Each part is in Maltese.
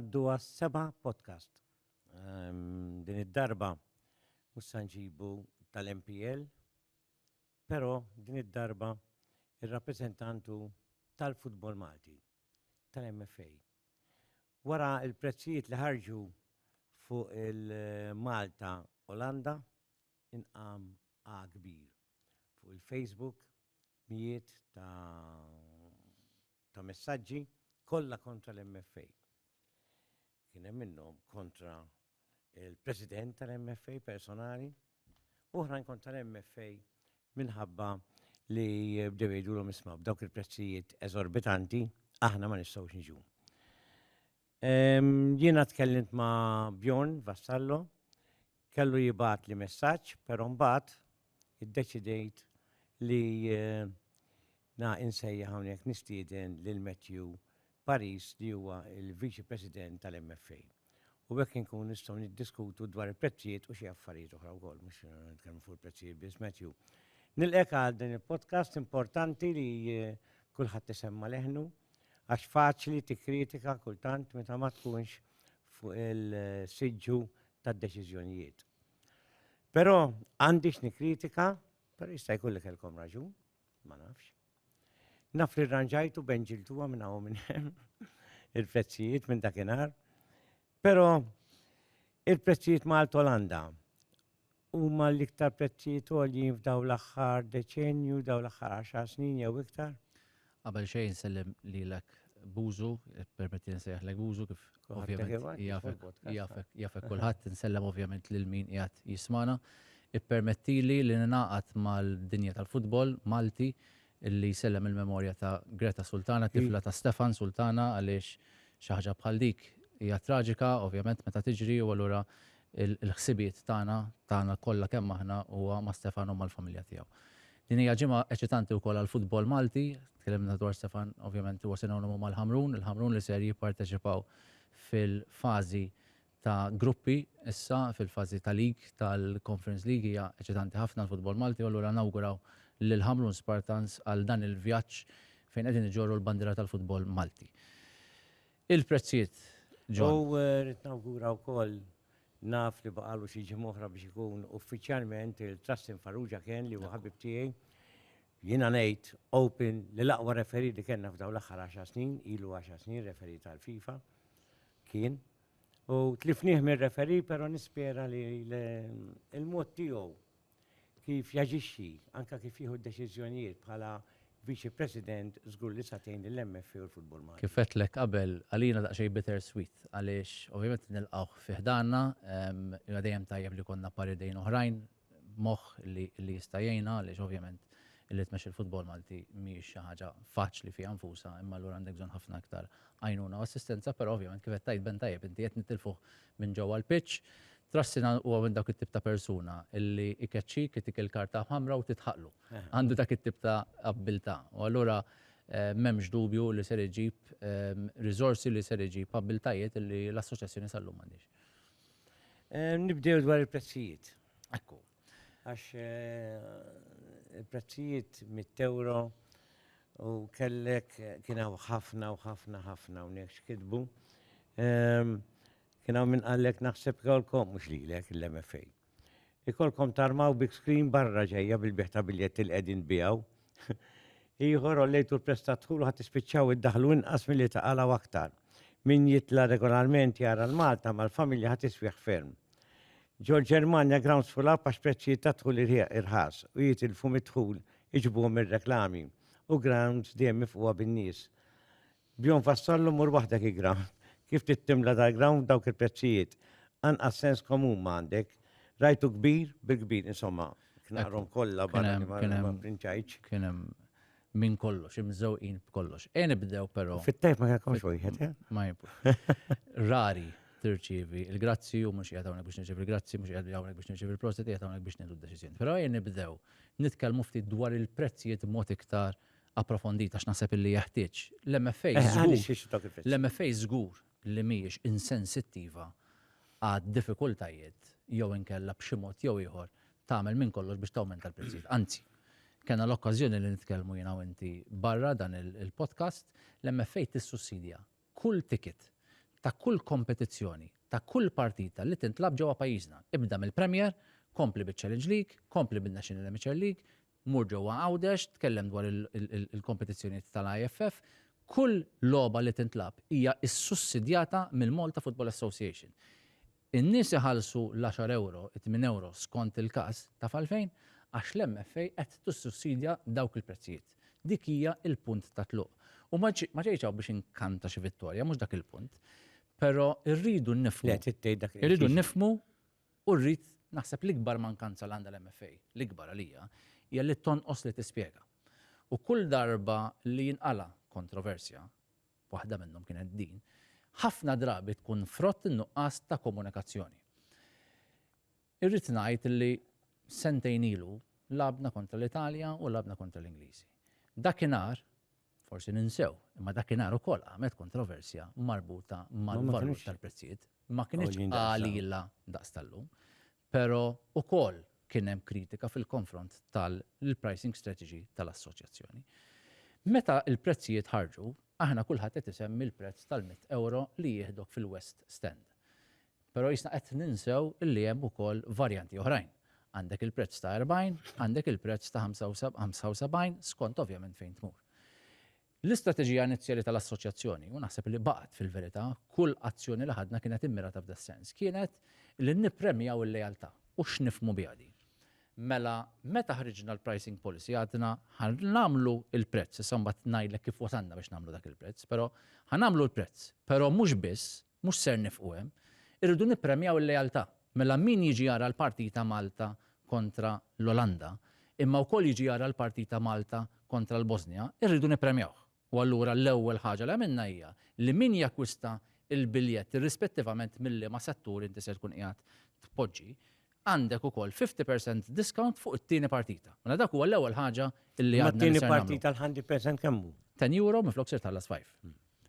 naddu għas-seba podcast. Um, din id-darba mus sanġibu tal-MPL, Però din id-darba ir-rappreżentant hu tal-futbol Malti, tal-MFA. Wara il-prezzijiet li ħarġu fuq il-Malta Olanda inqam A kbir. Fuq il-Facebook mijiet ta' ta' messaġġi kollha kontra l-MFA. Kien hemm minnhom kontra il-President tal-MFA personali, oħrajn kontra l-MFA minħabba li bdew jgħidulhom isma' b'dawk il-prezzijiet eżorbitanti aħna ma nistgħux niġu. Jiena tkellimt ma' Bjorn Vassallo, kellu jibgħat li messaġġ, però mbagħad iddeċidejt li eh, na insejja hawnhekk nistieden lil Matthew Paris li huwa il-Viċi President tal-MFA. U hekk inkun nistgħu niddiskutu dwar il-prezzijiet u xi affarijiet oħra wkoll, mhux eh, nitkellmu fuq il-prezzijiet biss Matthew. Nilqek għal din il-podcast importanti li eh, kulħadd isemma leħnu Għax faċli tikkritika kultant meta ma tkunx fuq il-siġġu tad-deċiżjonijiet. Però għandix nikkritika, però jista' jkun li kellkom raġun, ma nafx. Naf li rranġajtu benġiltuha minn hawn minn hemm il-prezzijiet minn dakinhar. Però il-prezzijiet Malta Olanda huma l-iktar prezzijiet għoljin f'daw l-aħħar deċenju, daw l-aħħar 10 snin jew iktar. Qabel xejn sellem lilek Buzu, permetti nsejħlek Buzu kif ovvjament jafek kulħadd insellem ovvjament lil min qiegħed jismana. Ippermettili li ninaqat mal-dinja tal-futbol Malti li jsellem il-memorja ta' Greta Sultana, tifla ta' Stefan Sultana għaliex xi ħaġa bħal dik hija traġika ovvjament meta tiġri u allura l-ħsibiet tagħna, tagħna kollha kemm aħna huwa ma' Stefan u mal-familja tiegħu. Din hija ġimgħa eċitanti wkoll għall-futbol Malti, tkellimna dwar Stefan ovvjament huwa sinonimu mal-Ħamrun, il-Ħamrun li ser jipparteċipaw fil-fażi ta' gruppi issa fil-fażi ta' league tal-Conference League hija eċitanti ħafna għall-futbol Malti u allura nawguraw lill-Ħamrun Spartans għal dan il-vjaġġ fejn qegħdin iġorru l-bandiera tal-futbol Malti. Il-prezzijiet, John. U rrid nawgura wkoll, naf li baqgħalu xi ġimgħa oħra biex ikun uffiċjalment il-Trustin Farrugia Ken li huwa ħabib tiegħi, jiena ngħid open li l-aqwa referee li kellna f'dawn l-aħħar għaxar snin, ilu għaxar snin referee tal-FIFA, kien, U tlifnieh mir-referi, però nispera li il-mod tiegħu kif jaġixxi, anka kif jieħu deċiżjonijiet bħala Viċi President żgur li satejn lill-MFA u l-futbol Malti. Kif għedtlek qabel, għalina daqsxejn bitter sweet għaliex ovvjament nilqgħuh fi ħdanna, imma dejjem tajjeb li jkollna par idejn oħrajn moħħ li li jista' jgħinha għaliex ovvjament li tmexxi l-futbol Malti mhijiex xi ħaġa faċli fiha nfusha imma allura għandek bżonn ħafna iktar għajnuna u assistenza però ovvjament kif qed tgħid Ben tajjeb inti qed nitilfuh minn ġewwa l-pitch Trassina huwa minn dawk it-tip ta' persuna illi ikeċċik, itik il-karta ħamra u titħaqlu. Għandu dak it-tip ta' abbiltà. U allura m'hemmx dubju li ser iġib riżorsi li ser iġib abbiltajiet li l-assoċjazzjoni sal-lum m'għandhiex. Eh, nibdew dwar il-prezzijiet. Ekku. Għax eh, il-prezzijiet mit-euro u kellek kien hawn ħafna u ħafna ħafna u nekx kitbu. Ehm, kien hawn minn qallek naħseb kolkom mhux lilek l-MFA. Ikollkom tarmaw big screen barra ġejja bil-bigħ ta' biljetti li qegħdin tbiegħu. Ieħor għollejtu l-prezz tad-dħul u ħa tispiċċaw iddaħħlu inqas milli taqalgħu aktar. Min jitla' regolarment jara l-Malta mal-familja ħa tiswieħ ferm. Ġol Ġermanja grounds full up għax prezzijiet tad-dħul irħas u jitilfu mid-dħul iġbuhom ir-reklami u grounds dejjem mifqugħa bin-nies. Bjorn fassallu mur waħdek igra kif trid timla dal-grawn f'dawk il-prezzijiet. Anqas sens komun ma għandek. Rajtu kbir bil-kbir, insomma, knaqrhom kollha barra li ma prinċajtx. Kien hemm minn kollox, imżewqin b'kollox. E nibdew però. Fit-tajb ma kellkomx wieħed, eh? Ma Rari tirċievi il-grazzi u mhux qiegħed hawnhekk biex nirċievi il-grazzi, mhux qiegħed hawnhekk biex nirċievi il-prosit, qiegħed hawnhekk biex nieħdu d-deċiżjoni. Però ejja nibdew nitkellmu ftit dwar il-prezzijiet mod iktar approfondit għax naħseb illi jeħtieġ. L-MFA żgur, l-MFA żgur li mhijiex insensittiva għad-diffikultajiet jew inkella b'xi mod jew ieħor tagħmel minn kollox biex tawmenta l-prezzijiet. Anzi, kena l-okkażjoni li nitkellmu jiena u inti barra dan il-podcast, l-MFA tissussidja kull ticket ta' kull kompetizzjoni ta' kull partita li tintlagħab ġewwa pajjiżna. Ibda mill-Premier, kompli biċ-Challenge League, kompli bin-National Amateur League, mur ġewwa Għawdex, tkellem dwar il-kompetizzjonijiet tal-IFF, kull logħba li tintlagħab hija ssussidjata mill-Malta Football Association. In-nies iħallsu l-għaxar ewro, it-tmien ewro skont il-każ, taf għalfejn? Għax l-MFA qed tissussidja dawk il-prezzijiet. Dik hija l-punt ta' tluq. U ma ġejtx hawn biex inkanta xi vittorja, mhux dak il-punt. Però rridu nifhmu, irridu nifhmu u rrid naħseb l-ikbar mankanza li għandha l-MFA, l-ikbar għalija, hija li tonqos li tispjega. U kull darba li jinqala' kontroversja, waħda minnhom kienet din, ħafna drabi tkun frott in-nuqqas ta' komunikazzjoni. Irrid ngħid li sentejn ilu labna kontra l-Italja u labna kontra l-Ingliżi. Dakinhar forsi ninsew, imma dakinhar ukoll għamet kontroversja marbuta mal-valur tal-prezzijiet, ma kienx għalila daqs tal-lum. Però ukoll kien hemm kritika fil-konfront tal-pricing strategy tal-assoċjazzjoni. Meta l-prezzijiet ħarġu, aħna kulħadd qed isemmi l-prezz tal-mitt ewro li jieħdok fil-West Stand. Però qisna qed ninsew li hemm ukoll varjanti oħrajn. Għandek il-prezz ta' 40, għandek il-prezz ta' 75 skont ovvjament fejn tmur. L-istrateġija inizjali tal-Assoċjazzjoni, u naħseb li baqgħet fil-verità, kull azzjoni li ħadna kienet immirata f'das-sens, kienet li nippremjaw il-lealtà. U x'nifhmu biha din? Mela, meta ħriġna l-pricing policy għadna ħa nagħmlu l-prezz, issa mbagħad ngħidlek kif wasalna biex nagħmlu dak il-prezz, però ħa nagħmlu l-prezz, però mhux biss, Mhux ser nifqu hemm. Irridu nippremjaw il-lealtà. Mela min jiġi jara l-partita Malta kontra l-Olanda, imma wkoll jiġi jara l-partita Malta kontra l-Bosnja, irridu nippremjawh. U allura l-ewwel ħaġa li għamilna hija li min jakkwista l-biljett irrispettivament minn liema settur inti ser tkun qiegħed tpoġġi, għandek ukoll 50 percent discount fuq it-tieni partita. Mela dak huwa l-ewwel ħaġa li għadna li ser nagħmlu. Imma t-tieni partita l-100 percent kemm hu? €10 minflok ser tħallas 5.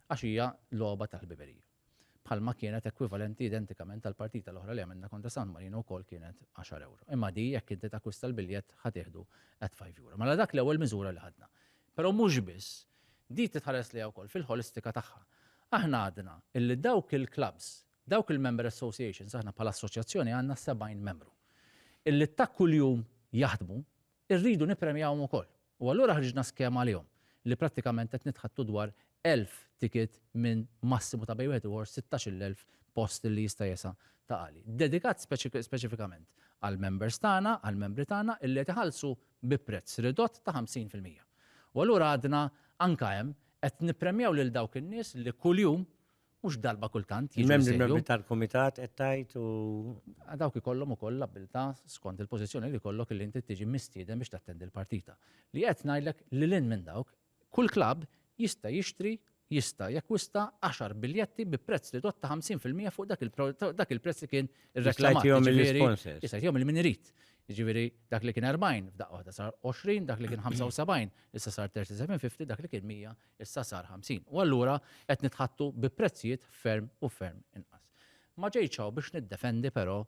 għax hija logħba tal-ħbiberija. Bħalma kienet ekwivalenti identikament tal-partita l-oħra li għamilna kontra San Marino wkoll kienet 10 euro. Imma di jekk inti takwista l-biljett ħa tieħdu at 5 euro. Mela dak l-ewwel miżura li ħadna. Però mhux biss, di titħares li wkoll fil-ħolistika tagħha. Aħna għadna illi dawk il-clubs, dawk il-member associations, aħna bħala assoċjazzjoni għandna 70 membru. Illi ta' kuljum jaħdmu, irridu nipremjawhom ukoll. U allura ħriġna skema għalihom, li prattikament qed nitħaddtu dwar 1,000 ticket minn massimu ta' bejn wieħed u ieħor 16-il elf post li jista' jesa' ta' għali. Dedikat speċifikament għall-members tagħna, għall-membri tagħna, illi qed iħallsu bi prezz ridott ta' 50 fil-mija. U allura għadna anke hemm qed nippremjaw lil dawk in-nies li kuljum mhux darba kultant jiġu Membri jsejħu. membri tal-kumitat qed tgħid u A Dawk ikollhom ukoll l-abbiltà skont il-pożizzjoni li jkollok li inti tiġi mistieden biex tattendi l-partita. Li qed ngħidlek li lil minn dawk, kull klabb jista' jixtri jista' jakkwista 10 biljetti bi prezz ridott ta' 50% fuq dak il-pro- ta' dak il-prezz li kien irreklamat. jgħidihom jiġifieri- mill-sponsors. Jista' jgħidihom il-min irid. Jiġifieri dak li kien 40 f'daqqa waħda sar 20, dak li kien 75 issa sar 37.50, dak li kien 100 Issa sar 50 u allura qed nitħattu bi prezzijiet ferm u ferm inqas. Ma ġejtx hawn biex niddefendi però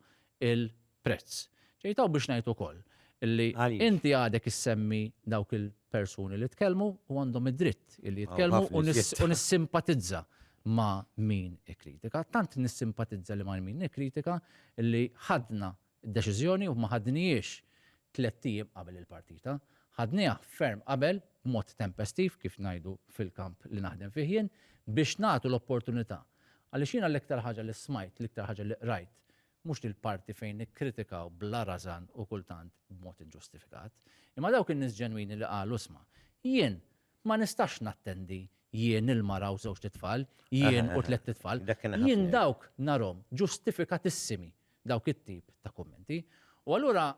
il-prezz. Ġejt hawn biex ngħid ukoll li inti għadek issemmi dawk il-persuni li tkellmu u għandhom id-dritt li jitkellmu u nissimpatizza ma' min ikkritika. Tant nissimpatizza li ma' min ikkritika li ħadna Id-deċiżjoni ma ħadnihiex tlett ijiem qabel il-partita, ħadniha ferm qabel b'mod tempestiv, kif ngħidu fil-kamp li naħdem fih jien, biex nagħtu l-opportunità. Għaliex jiena l-iktar ħaġa li smajt, l-iktar ħaġa li qrajt, mhux dil-parti fejn nikkritikaw bla rażan u kultant b'mod inġustifikat, imma dawk in-nies ġenwini li qalu isma', jien ma nistax nattendi jien il-mara u żewġt itfal, jien u tlett itfal. Jien dawk narhom ġustifikatissimi dawk it-tip ta' kummenti. U allura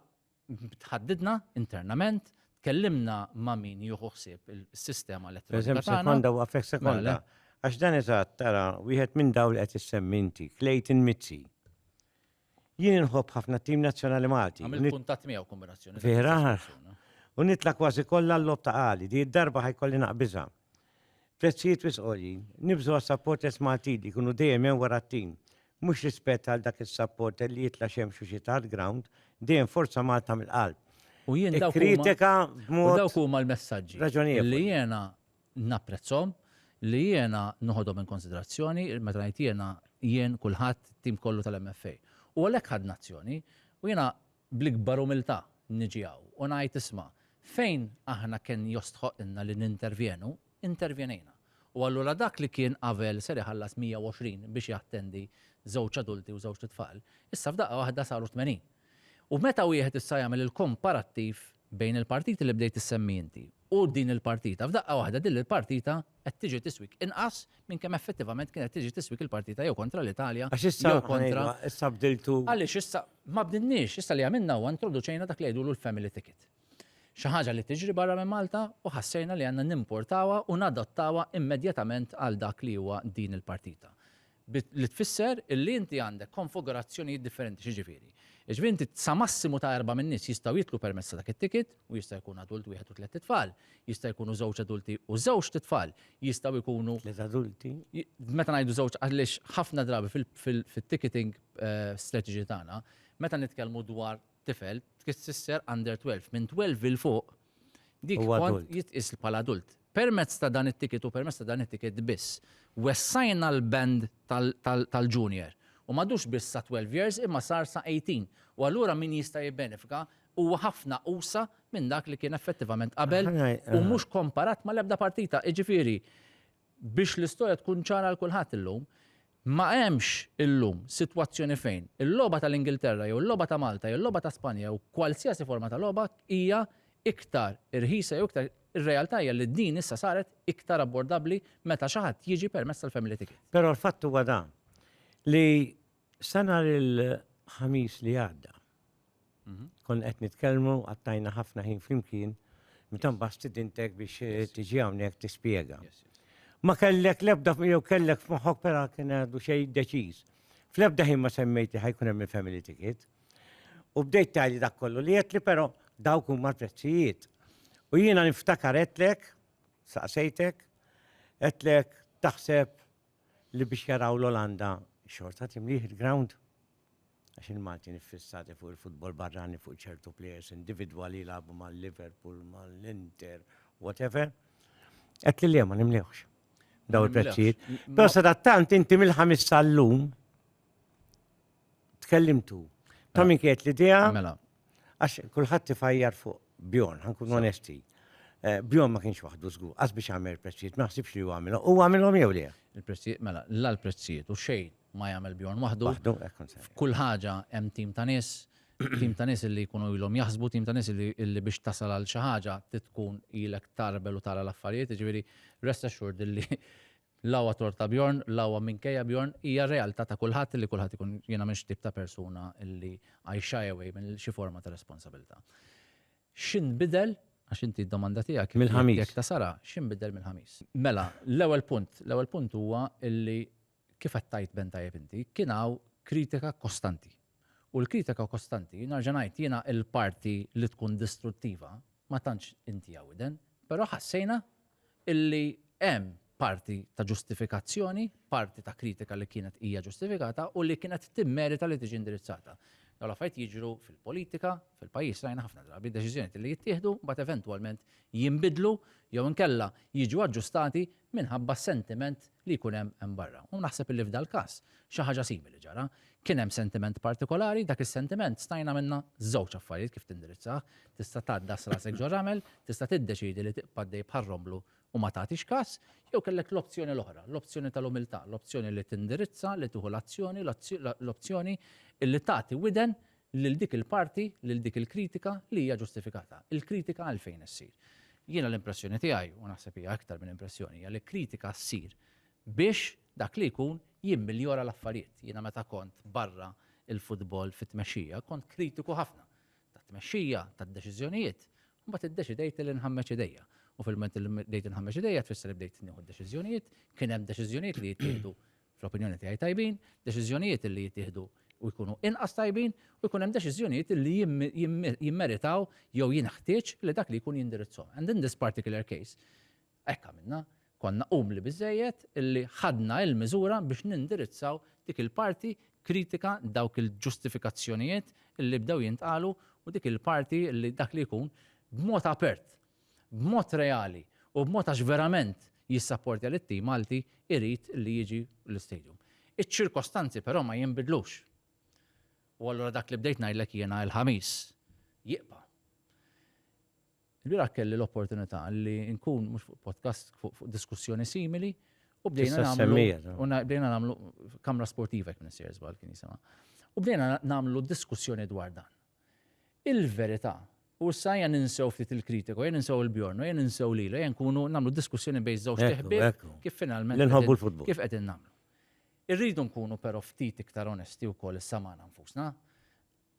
tħaddidna internament, tkellimna ma' min jieħu ħsieb is-sistema elettronika tagħna. Eżatt, sekonda waqfek sekonda. Għax dan eżatt, tara, wieħed minn dawn li qed issemmi inti, Clayton Mizzi. Jien inħobb ħafna t-tim nazzjonali Malti. Għamil kuntat miegħu kombinazzjoni. Vera? U nitla kważi kollha l-lob ta' għali, di darba ħajkolli naqbiża. Prezzijiet wisqoli, nibżu għas supporters Malti li kunu dejjem hemm wara t-tim. Mhux rispett għal dak is-supporter li jitla xemx u xita l-ground, dejjem forza Malta mill-qalb. U jien dawk kritika b'mod. Dawk huma l-messaġġi. Raġunijiet. Li jiena napprezzhom, li jiena noħodhom in konsiderazzjoni, meta ngħid jiena, jien, kulħadd, it-tim kollu tal-MFA. U għalhekk ħadna azzjoni. U jiena bl-ikbar umiltà niġi hawn u ngħid isma', fejn aħna kien jostħoqqilna li nintervjenu, intervjenejna. U allura dak li kien qabel ser iħallas 120 biex jattendi żewġ adulti u żewġt itfal, issa f'daqqa waħda saru 80. U meta wieħed issa jagħmel il-komparattiv bejn il-partiti li bdejt issemmi inti u din il-partita, f'daqqa waħda din il-partita qed tiġi tiswik inqas minn kemm effettivament kienet tiġi tiswik il-partita jew kontra l-Italja jew kontra. Għax issa, issa bdiltu. Għaliex issa ma bdilniex, issa li għamilna huwa introduċejna dak li jgħidulu l-family ticket. Xi ħaġa li tiġri barra minn Malta u ħassejna li għandna nimportawha u nadottawha immedjatament għal dak li huwa din il-partita. Li tfisser illi inti għandek konfugurazzjonijiet differenti. X'jiġifieri? Jiġifieri inti sa massimu ta' erba' min-nies jistgħu jidħlu permezz ta' dak it-ticket u jista' jkun adult wieħed u tliet itfal, jista' jkunu żewġ adulti u żewġt itfal, jistgħu jkunu. Tliet adulti. Meta ngħidu żewġ għaliex ħafna drabi fit-ticketing strategy tagħna, meta nitkellmu dwar tifel, tfisser under 12, minn 12 'il fuq dik kont jitqies bħala adult. Permezz ta' dan it-ticket u permezz ta' dan it-ticket biss wessajna l-band tal-junior u m'għadux biss sa 12 years imma sar sa 18 u allura min jista' jibbenefika huwa ħafna uwsa' minn dak li kien effettivament qabel u mhux komparat mal-ebda partita. Jiġifieri biex l-istorja tkun ċara għal kulħadd illum, Ma hemmx illum sitwazzjoni fejn il-logħba tal-Ingilterra jew il-logħba ta' Malta jew il-logħba ta' Spanja jew kwalsiasi forma ta' logħba hija iktar irħisa jew iktar Ir-realtà hija li din issa saret iktar abbordabbli meta xi ħadd jiġi permezz tal-Family Ticket. Però l-fatt huwa dan, li sa nhar il-Ħamis li għadda, Konna qed nitkellmu, qattajna ħafna ħin flimkien, meta mbagħad stidintek biex eh, tiġi hawnhekk tispjega. Ma kellek l-ebda jew kellek f'moħħok pera kien għadu xejn deċiż. Fl-ebda ħin ma semmejti ħajkun hemm il-family ticket. U bdejt tali dak kollu li qed li però dawk huma l-prezzijiet. U jiena niftakar qedlek, saqsejtek, qedlek taħseb li biex jaraw l-Olanda xorta timlih il-ground għax il-Maltin iffissati fuq il-futbol barrani fuq ċertu plejers individwali jilagħbu mal-Liverpool, mal-Inter, whatever. Qed li le ma nimlewx daw il-prezzijiet. Però sadattant inti mill-ħamis sal-lum tkellimtu. Ta' minn kiet l-idea. Mela. Għax kulħadd tifajjar fuq Bjorn, ħankun onesti. Eh, Bjorn ma kienx waħdu żgur, għas biex għamel prezzijiet, ma ħsibx li għamilhom. U għamilhom jew le? Il-prezzijiet, mela, la l-prezzijiet u xejn ma jagħmel Bjorn waħdu. Kull ħaġa hemm tim ta' nies, tim ta' nies li jkunu ilhom jaħsbu, tim ta' nies li biex tasal għal xi ħaġa tkun ilek tarbel u tara l-affarijiet, ġifieri rest assured li L-għawa torta Bjorn, l-għawa minkejja Bjorn, hija realtà ta' kulħadd li kulħadd ikun jiena m'iniex it-tip ta' persuna li I shy away minn xi forma ta' responsabilità. X'inbidel, għax inti d-domanda tiegħek hi jekk ta' Sara, x'inbidel mill-Ħamis? Mela, l-ewwel punt, l-ewwel punt huwa li kif qed tgħid Ben tajjeb inti, kien hawn kritika kostanti. U l-kritika kostanti, nerġa' ngħid, jiena l-parti li tkun distruttiva ma tantx intiha widen, però ħassejna illi hemm parti ta' ġustifikazzjoni, parti ta' kritika li kienet hija ġustifikata u li kienet timmerita li tiġi indirizzata. Dawn l-affarijiet jiġru fil-politika, fil-pajjiż rajna ħafna drabi deċiżjonijiet li jittieħdu mbagħad eventwalment jinbidlu jew inkella jiġu aġġustati minħabba s-sentiment li jkun hemm hemm barra. U naħseb illi f'dal-każ xi ħaġa simili ġara. Kien hemm sentiment partikolari, dak is-sentiment stajna minna żewġ affarijiet kif tindirizzah, tista' tgħaddas rasek ġo ramel, tista' tiddeċiedi li tibqa' għaddej bħar-romblu u ma tagħtix kas, jew kellek l-opzjoni l-oħra, l-opzjoni tal-umiltà, l-opzjoni li tindirizza, li tieħu l-azzjoni, l-opzjoni illi tagħti widen lil dik il-parti, lil dik il-kritika li hija ġustifikata. Il-kritika għalfejn issir? Jiena l-impressjoni tiegħi, u naħseb hija iktar minn impressjoni, hija li kritika ssir biex dak li jkun jimmiljora l-affarijiet. Jiena meta kont barra il-futbol fit-tmexxija kont kritiku ħafna tat-tmexxija, tad-deċiżjonijiet, mbagħad iddeċidejt li nħammeġ idejja. U fil-ment li bdejt nħammeġ idejja tfisser li bdejt nieħu deċiżjonijiet, kien hemm deċiżjonijiet li jittieħdu fl-opinjoni tiegħi tajbin, deċiżjonijiet li jittieħdu u jkunu inqas tajbin u jkun hemm deċiżjonijiet li jimmeritaw jew jinħtieġ li dak li jkun jindirizzhom. And in this particular case, hekk għamilna, konna umli biżejjed illi ħadna il-miżura biex nindirizzaw dik il-parti kritika dawk il-ġustifikazzjonijiet illi bdew jintqalu u dik il-parti illi dak li jkun b'mod apert b'mod reali u b'mod għax verament jissapportja lit-tim Malti irid li jiġi l-istadium. Iċ-ċirkostanzi però ma jinbidlux. U allura dak li bdejt ngħidlek jiena il-Ħamis jibqa'. Il-bieraħ kelli l-opportunità li nkun mhux fuq podcast fuq diskussjoni simili u bdejna nagħmlu u bdejna nagħmlu kamra sportiva jekk nisir żball kien jisimha. U bdejna nagħmlu diskussjoni dwar dan. il-verità. U issa ejja ninsew ftit il-kritiku, ejja ninsew il-Bjorn, ejja ninsew lil, ejja nkunu nagħmlu diskussjoni bejn żewġ teħbieb kif finalment nħobbu l-futbol. Kif qegħdin nagħmlu. Irridu nkunu però ftit iktar onesti wkoll issa magħna nfusna.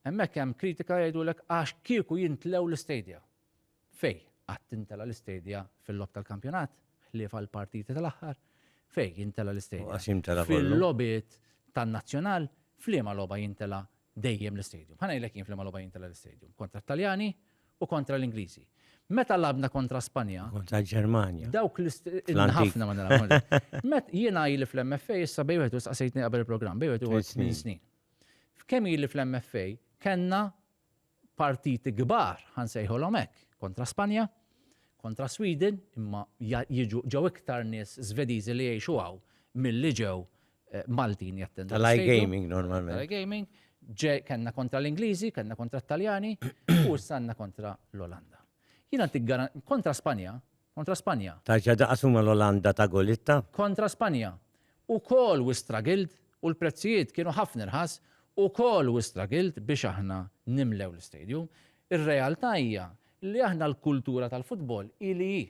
Hemmhekk hemm kritika jgħidulek għax kieku jintlew l-istedja. Fej, qatt intela l-istedja fil-lob tal-kampjonat, ħlief għal partiti tal-aħħar, fej jintela l-istedja. Fil-lobit tan-nazzjonal, fliema loba jintela dejjem l-istadium. Ħa ngħidlek jien f'liema logħba jien tela' l-istadium, kontra t-Taljani u kontra l-Ingliżi. Meta labna kontra Spanja. Kontra Ġermanja. Dawk l-ħafna ma nilgħabhomx. Met jiena ili fl-MFA issa bej wieħed saqsejtni qabel il-programm, bej wieħed uħud snin snin. F'kemm ili fl-MFA kellna partiti kbar ħansejħolhom hekk kontra Spanja, kontra Sweden, imma jiġu ġew iktar nies Svediżi li jgħixu hawn mill-li ġew Maltin jattendu. Tal-iGaming normalment. Tal-iGaming, kellna kontra l-Ingliżi, kellna kontra t-Taljani, u sanna kontra l-Olanda. Jina kontra Spanja, kontra Spanja. Taġġa daqasuma l-Olanda ta' Golitta? Kontra Spanja. U kol u stragild, u l-prezzijiet kienu ħafna rħas, u kol u stragild biex aħna nimlew l-stadium. Ir-realtà hija li aħna l-kultura tal-futbol ili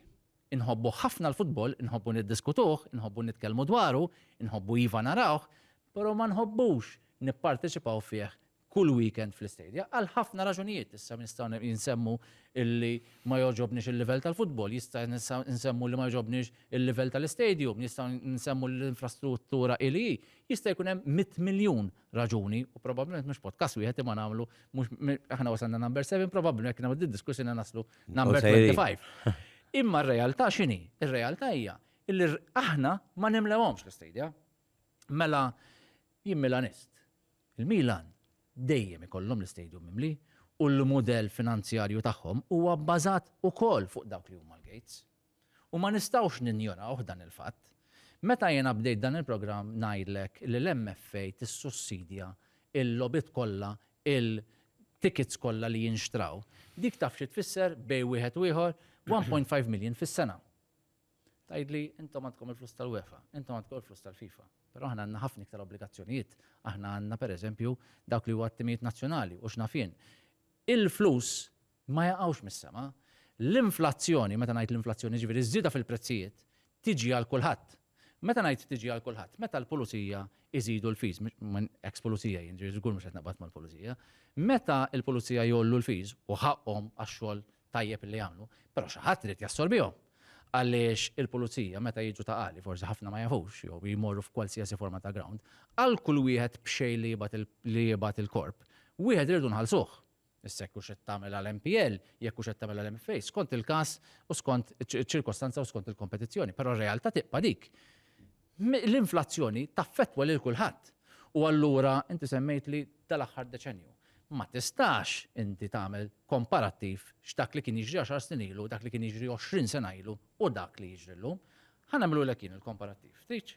Inħobbu ħafna l-futbol, inħobbu niddiskutuh, inħobbu nitkellmu dwaru, inħobbu iva narawh, però ma nħobbux nipparteċipaw fih kull weekend fl-istedja, għal ħafna raġunijiet. Issa nistgħu nsemmu li ma jogħġobniex il-livell tal-futbol, jista' nsemmu li ma jogħġobniex il-livell tal-istadium, nistgħu nsemmu li l-infrastruttura hi li hi. Jista' jkun hemm mitt miljun raġuni u probabbilment mhux podcast wieħed imma nagħmlu mhux aħna wasalna number 7 probabbilment jekk nagħmlu diskussjoni naslu number 25. Imma r-realtà x'inhi? Ir-realtà hija illi aħna ma nimlewhomx l-istadja. Mela jien Milanist. Il-Milan dejjem ikollhom l-istadium mimli u l-mudell finanzjarju tagħhom huwa bbażat ukoll fuq dawk li huma l-gates. U ma nistgħux ninjorawh dan il-fatt. Meta jiena bdejt dan il-programm ngħidlek li l-MFA tissussidja l-logħbiet kollha, il-tickets kollha li jinxtraw, dik taf xi tfisser bejn wieħed u ieħor? 1.5 million fis-sena. Tgħidli intom għandkom il-flus tal-UEFA, intom għandkom il-flus tal-FIFA. Però aħna għandna ħafna iktar obbligazzjonijiet. Aħna għandna pereżempju dawk li huwa t-timijiet nazzjonali u x'naf jien. Il-flus ma jaqgħux mis-sema. L-inflazzjoni, meta ngħid l-inflazzjoni jiġifieri ż-żieda fil-prezzijiet, tiġi għal kulħadd. Meta ngħid tiġi għal kulħadd, meta l-pulizija jżidu l-fees, minn ex pulizija jien ġifieri żgur mhux qed naqbad mal-pulizija, meta l-pulizija jgħollu l-fees u ħaqqhom għax-xogħol tajjeb li jagħmlu, però xi ħadd irid jassorbihom. Għaliex il-pulizija meta jiġu ta' qali, forsi ħafna ma jafux jew jmorru f'kwalsiasi forma ta' ground, għal kull wieħed b'xejn li jibgħat il-korp, wieħed irridu nħallsuh. Issek hux qed tagħmilha l-MPL, jekk hux qed tagħmilha l-MFA, skont il-każ u skont iċ-ċirkostanza u skont il-kompetizzjoni, però r-realtà tibqa' dik. L-inflazzjoni taffettwa lil kulħadd. U allura inti semmejtli tal-aħħar deċennju ma tistax inti tagħmel komparattiv x'dak li kien jiġri 10 snin ilu, dak li kien jiġri 20 sena ilu u dak li jiġri llum. Ħa nagħmlulek jien il-komparattiv. Tridx?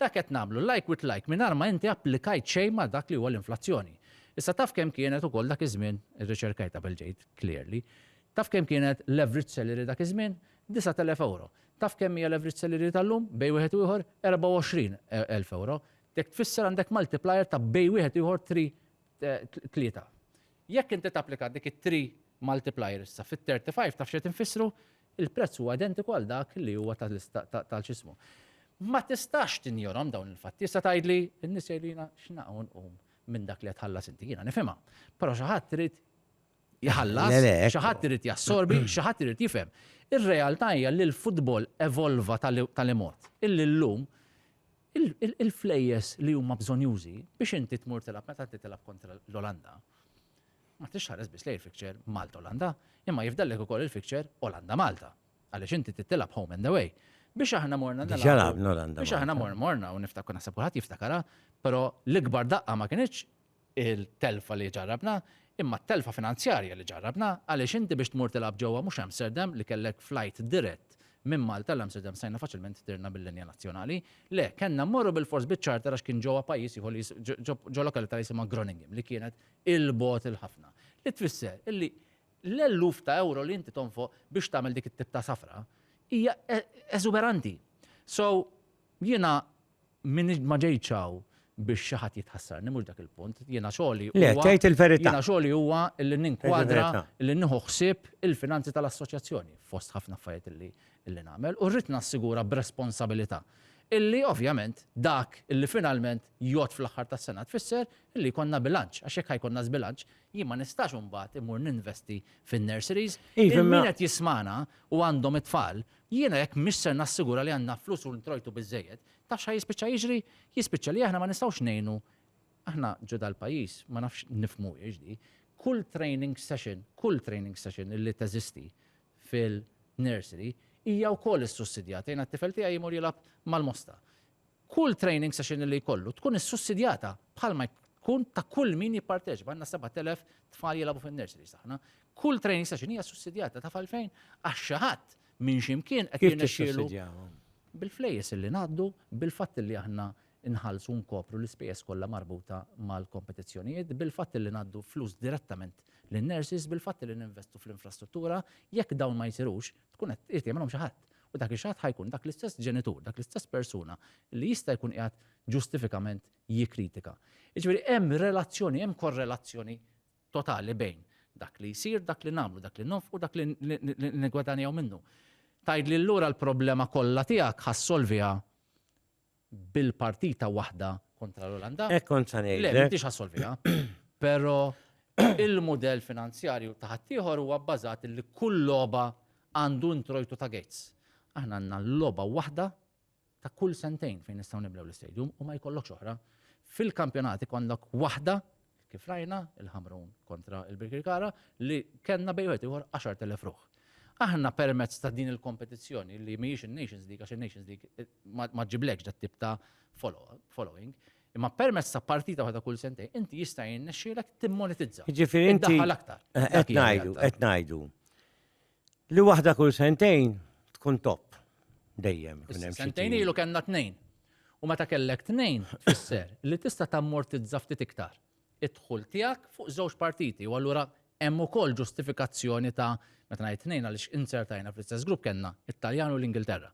Dak qed nagħmlu like with like mingħajr ma inti applikajt xejn ma' dak li huwa l-inflazzjoni. Issa taf kemm kienet ukoll dak iż-żmien, irriċerkajt qabel ġejt, clearly, taf kemm kienet l-average salary dak iż-żmien? Disgħat elef ewro. Taf kemm hija l-average salary tal-lum, bejn wieħed u ieħor? Erbgħa u għoxrin elf ewro. Jekk tfisser għandek multiplier ta' bejn wieħed u ieħor three, tlieta. Jekk inti tapplika dik it-three multiplier issa fit-thirty five taf x'qed infissru? Il-prezz huwa identiku għal dak li huwa ta' x'ismu. Ma tistax tinjorhom dawn il-fatti. Issa tgħidli, in-nies jgħidulina x'na u nqum minn dak li qed tħallas inti. Jiena nifhimha. Però xi ħadd irid jħallas, xi ħadd irid jassorbi, xi ħadd irid jifhem. Ir-realtà hija li l-futbol evolva tal-imod illi llum Il-flejjes li huma bżonjużi biex inti tmur tilgħab meta inti tilgħab kontra l-Olanda, ma tridx tħares biss lejn il-fixture Malta-Olanda, imma jifdallek ukoll il-fixture Olanda-Malta, għaliex inti trid tilgħab home and away. Biex aħna morna nilgħabu. Diġà lagħabna Olanda-Malta. Biex aħna morna u niftakru, naħseb kulħadd jiftakarha, però l-ikbar daqqa ma kinitx il-telfa li ġarrabna, imma t-telfa finanzjarja li ġarrabna għaliex inti biex tmur tilgħab ġewwa mhux Amsterdam li kellek flajt dirett minn Malta għal Amsterdam stajna faċilment tirna bil-linja nazzjonali. Le, kellna mmorru bil-fors biċ-charter għax kien ġewwa pajjiż ieħor li ġo lokalità li jisimha Groningen li kienet 'il bogħod 'il ħafna. Li tfisser illi l-eluf ta' ewro li inti tonfoq biex tagħmel dik it-tip ta' safra hija eżuberanti. So, jiena M'iniex, ma ġejtx hawn biex xi ħadd jitħassarni, mhux dak il-punt. Jiena xogħli huwa. Le, tgħid il-verità. Jiena xogħli huwa li ninkwadra, li nieħu ħsieb il-finanzi tal-Assoċjazzjoni, fost ħafna affarijiet illi illi nagħmel, u rrid nassigura b'responsabilità illi ovvjament dak illi finalment jgħodd fl-aħħar tas-sena tfisser illi jkollna bilanċ, għax jekk ħajkollna żbilanċ, jien ma nistax imbagħad immur ninvesti fin-nurseries. Iva, imma- Il-min qed jismagħna u għandhom it-tfal Jiena jekk mhix ser nassigura li għandna flus u introjtu biżżejjed, taf x'ha jispiċċa jiġri? Jispiċċa li aħna ma nistgħux ngħinu Aħna ġo dal-pajjiż, ma nafx nifhmuhiex di, kull training session, kull training session illi teżisti fil-nursery hija wkoll issussidjata. Jiena t-tifel tiegħi jmur jilgħab mal-mosta. Kull training session li jkollu tkun issussidjata bħalma tkun ta' kull min jipparteċipa. Għandna 7,000 tfal jilagħbu fin-nursery saħna. Kull training session hija sussidjata ta' falfejn għax xi ħadd minn ximkien qed jirnexxielu bil-flejjes li ngħaddu bil-fatt li aħna nħallsu nkopru l-ispejjeż kollha marbuta mal-kompetizzjonijiet, bil-fatt li ngħaddu flus direttament lin-nurses, bil-fatt li ninvestu fl-infrastruttura, jekk dawn ma jsirux, tkun qed irtimilhom xi ħadd. U dak ix-xaħat ħa jkun dak l-istess ġenitur, dak l-istess persuna li jista' jkun qiegħed ġustifikament jikkritika. Jiġifieri hemm relazzjoni, hemm korrelazzjoni totali bejn dak li jsir, dak li nagħmlu, dak li nonfqu, dak li nigwadanjaw minnu. Tgħidli lura l-problema kollha tiegħek ħassolviha bil-partita waħda kontra l-Olanda. Hekk kont sa ngħidlek. Le, m'intix assolviha. Però il-mudell finanzjarju ta' ħaddieħor huwa bbażat li kull logħba għandu introjtu ta' gates. Aħna għandna logħba waħda ta' kull sentejn fejn nistgħu niblew l-istadium u ma jkollokx oħra. Fil-kampjonati kollok waħda kif rajna il-Ħamrun kontra il-Birkirkara li kellna bejn wieħed ieħor 10,000 ruħ. Aħna permezz ta' din il-kompetizzjoni li mhijiex in-Nations League għax in-Nations League eh, ma ġiblekx dat tip ta' following, imma permezz ta' partita waħda kull sentej, inti jista' jinnexxielek timmonetizza. Ġifieri inti aktar. Eh, qed ngħidu, qed ngħidu. Li waħda kull sentejn tkun top. Dejjem. Sentejn ilu kellna tnejn. U meta kellek tnejn, tfisser li tista' tammortizza ftit iktar id-dħul tiegħek fuq żewġ partiti. U allura hemm ukoll ġustifikazzjoni ta' meta ngħid tnejn għaliex insertajna fl-istess grupp kellna it-Taljan u l-Ingilterra.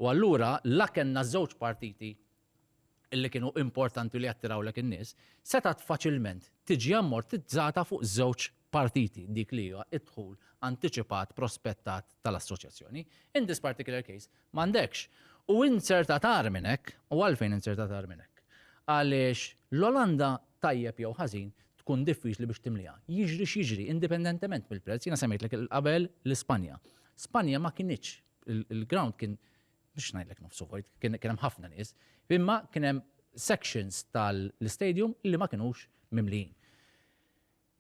U allura la kellna żewġ partiti li kienu importanti li jattirawlek in-nies, setgħet faċilment tiġi ammortizzata fuq żewġ partiti, dik li hija d-dħul antiċipat prospettat tal-assoċjazzjoni. In this particular case, m'għandekx. U inzertat agħar minn hekk, u għalfejn inzertat agħar minn hekk? Għaliex l-Olanda tajjeb jew ħażin tkun diffiċli biex timliha. Jiġri x'jiġri, indipendentement mill-prezz, jiena semmejtlek qabel l-Ispanja. Spanja ma kinitx, il-ground kien biex ngħidlek nofsu vojt, kien hemm ħafna nies, imma kien hemm sections tal-istadium li ma kinux mimlijin.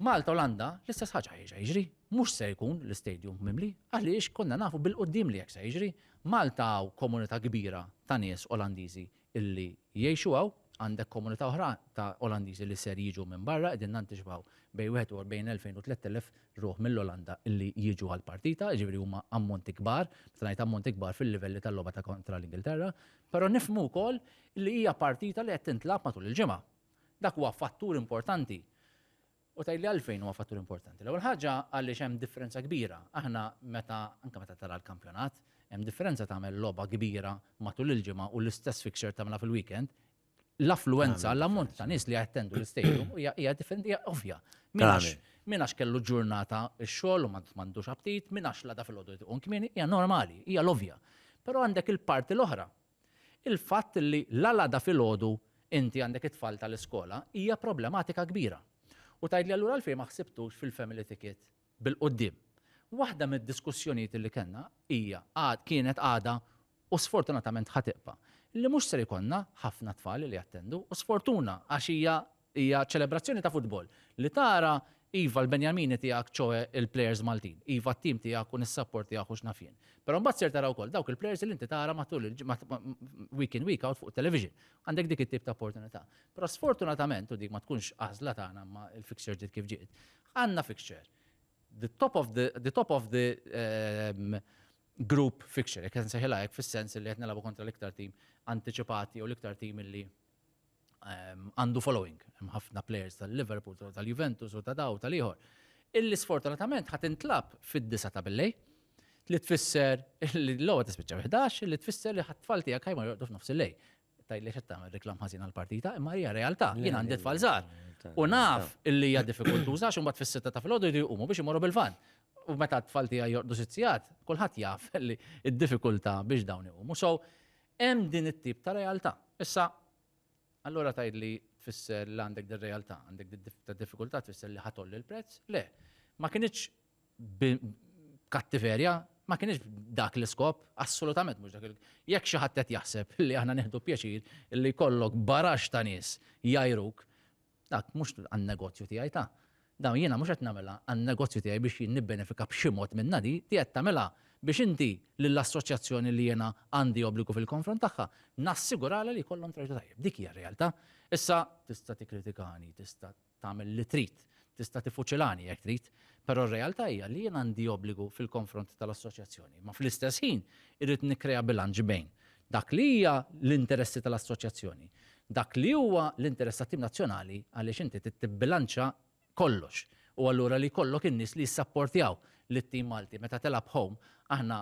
Malta Olanda l-istess ħaġa jiġa jiġri, mhux se jkun l-istadium mimli, għaliex konna nafu bil-qoddim li jekk se jiġri. Malta hawn komunità kbira ta' nies Olandiżi illi jgħixu hawn, għandek komunità oħra ta' Olandiżi li ser jiġu minn barra, qegħdin nantiċipaw bejn 41,000 u 3,000 ruħ mill-Olanda illi jiġu għall-partita, jiġifieri huma ammonti kbar, meta ngħid ammonti kbar fil-livelli tal-logħba ta' kontra l-Ingilterra, però nifhmu wkoll li hija partita li qed tintlagħab matul il-ġimgħa. Dak huwa fattur importanti. U tgħidli għalfejn huwa fattur importanti. L-ewwel ħaġa għaliex hemm differenza kbira. Aħna meta anke meta tara l-kampjonat, hemm differenza tagħmel logħba kbira matul il-ġimgħa u l-istess fixture tagħmilha fil-weekend. L-affluenza, l-ammont ta' nies li jattendu l-istadium hija differenti hija ovvja. Min għax kellu ġurnata x-xogħol u m'għandux aptit, min għax la da fil-għodu jtiqun kmieni, hija normali, hija l-ovja. Però għandek il-parti l-oħra Il-fatt li la l-għada filgħodu inti għandek it-tfal tal-iskola hija problematika kbira. U tgħidli allura għalfejn ma ħsibtux fil-family ticket bil-quddiem. Waħda mid-diskussjonijiet li kellna hija, kienet għadha u sfortunatament ħa tibqa', li mhux ser ikollna ħafna tfal li jattendu u sfortuna għax hija Hija ċelebrazzjoni ta' futbol, li tara, iva, l-Benjamini tiegħek, ċoe il-plejers Maltin, iva t-tim tiegħek u nissapportjah u x'naf jien. Però mbagħad ser tara wkoll dawk il-plejers li inti tara matul week in week out fuq it-television. Għandek dik it-tip ta' opportunità. Però sfortunatament, u dik ma tkunx għażla tagħna imma l-fixture ġiet kif ġiet, għandna fixture the top of the, the top of the um, group fixture, jekk nsejħilha hekk fis-sens li qed nilagħbu kontra l-iktar tim antiċipati jew l-iktar tim li ehm, għandu following, hemm ħafna players tal-Liverpool, tal-Juventus u ta' daw tal-ieħor. Illi sfortunatament ħat intlab fid-disa ta' billej li tfisser li l-logħba tispiċċa 11 li tfisser li ħat-tfal tiegħek ħajma jorqdu f'nofs il-lej. Tajli xed tagħmel reklam ħażin għall-partita, imma hija realtà, jien għandi tfal żgħar. U naf illi hija diffikultuża xi mbagħad fis-sitta ta' filgħodu jridu jqumu biex imorru bil-van u meta t-tfal tiegħi jordu sitzijat, kulħadd jaf li d-diffikultà biex dawn iqumu. So, Hemm din it-tip ta' realtà. Issa, allura tgħidli tfisser li għandek din realtà, għandek din tip ta' diffikultà tfisser li ħa tgħolli l-prezz? Le. Ma kinitx b'kattiverja, ma kinitx b'dak l-iskop, assolutament mhux dak il-. Jekk xi ħadd qed jaħseb li aħna nieħdu pjaċir li jkollok baraxx ta' nies jgħajruk, Dak mhux għan-negozju tiegħi ta' dawn jiena mhux qed nagħmilha għan-negozju tiegħi biex jien nibbenefika b'xi mod minnha di, di qed tagħmilha biex inti lill-assoċjazzjoni li jiena għandi obbligu fil-konfront tagħha nassiguralha li jkollhom trade tajjeb. Dik hija r-realtà. Issa tista' tikkritikani, tista' tagħmel li trid, tista' tifuċilani jekk trid, però r-realtà hija li jien għandi obbligu fil-konfront tal-assoċjazzjoni, ma fl-istess ħin irrid nikkrea bilanċ bejn Dak li hija l-interessi tal-assoċjazzjoni. Dak li huwa l-interess tat-tim nazzjonali għaliex inti trid tibbilanċa kollox. U allura li jkollok in-nies li jissapportjaw lit-tim Malti meta tilgħab home, aħna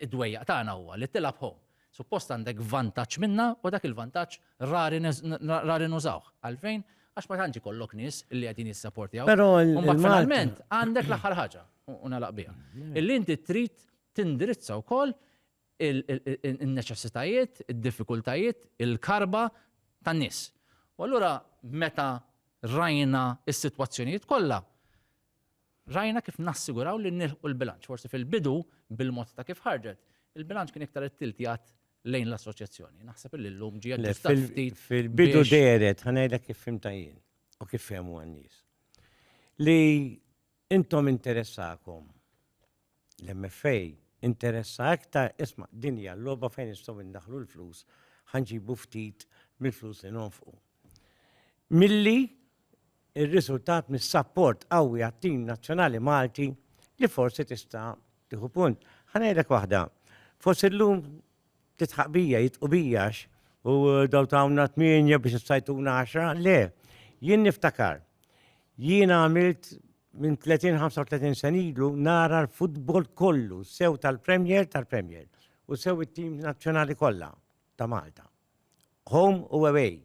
id-dwejjaq tagħna huwa li tilgħab home. Suppost għandek vantaġġ minnha u dak il-vantaġġ rari rari nużawh. Għalfejn? Għax ma tantx ikollok nies li qegħdin jissapportjaw. Però finalment għandek l-aħħar ħaġa u nagħlaq biha. Illi inti trid tindirizza wkoll in-neċessitajiet, id-diffikultajiet, il-karba tan-nies. U allura meta rajna s-sitwazzjonijiet kollha, rajna kif nassiguraw li nilħqu l-bilanċ. Forsi fil-bidu, bil-mod ta' kif ħarġet, il-bilanċ kien iktar it-tiltijat lejn l-assoċjazzjoni. Naħseb li l-lum ġie ftit. Fil-bidu deret, ħanajda kif fimta jien u kif fehmu għan-nies. Li Intom interessakom. L-MFA interessa iktar, isma' din hija l-logħba fejn nistgħu indaħlu l-flus, ħanġibu ftit mill-flus li nonfqu. Milli ir-riżultat mis-sapport qawwi għat-tim nazzjonali Malti li forsi tista' tieħu punt. Ħa ngħidlek waħda, forsi llum Titħaq bija, jitqu bija għax u daw tawna tmienja biex s-sajtuna għaxra, le, jien niftakar. Jien għamilt minn 30-35 senilu nara l-futbol kollu, sew tal-Premier, tal-Premier, u sew it-tim nazzjonali kollha ta' Malta. Home u away.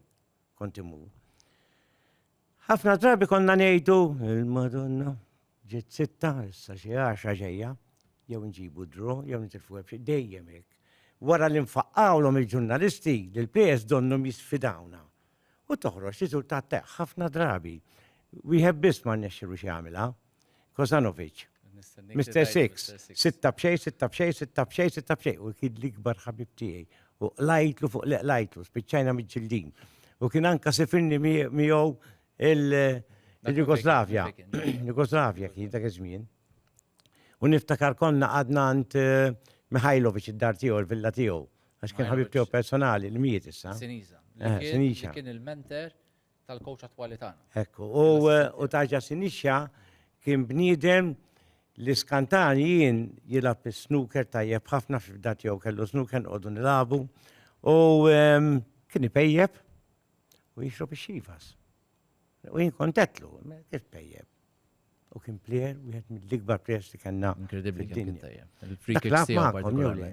Kont immur. Ħafna drabi konna ngħidu il-Madonna ġiet sitta, issa xi għaxa ġejja, jew nġibu dro, jew nitilfu ebxi, dejjem hekk. Wara li nfaqqawlhom il-ġurnalisti li l-PS donnhom jisfidawna. U toħroġ riżultat teħ ħafna drabi. Wieħed biss ma rnexxilu xi jagħmilha. Kozanovic. Mr. Six, sitta bxej, sitta bxej, sitta bxej, sitta bxej. U kien l-ikbar ħabib tiegħi. U lajtlu fuq li lajtlu, spiċċajna miġġildin. U kien anka sifirni miegħu il-Jugoslavja. Jugoslavja kien dak iż-żmien. U niftakar konna għadna għand eh, Mihajlovic id-dar tiegħu, il-villa tiegħu. Għax kien ħabib tiegħu personali li miet issa. Siniza. Eh, Siniza. Kien il-menter tal-kowċ attwali tagħna. Hekk hu. U Taġa Sinixxa kien bniedem li skantan jien jilgħab is-snooker tajjeb ħafna f'ibda tiegħu kellu snooker nqogħdu nilagħbu u ehm, kien ipejjeb u jixrob ix-xivas. U jien kontetlu, kif pejjeb. U kien plejer, wieħed mill-ikbar plejers li kellna. Inkredibbli kien tajjeb. Il-free kicks tiegħu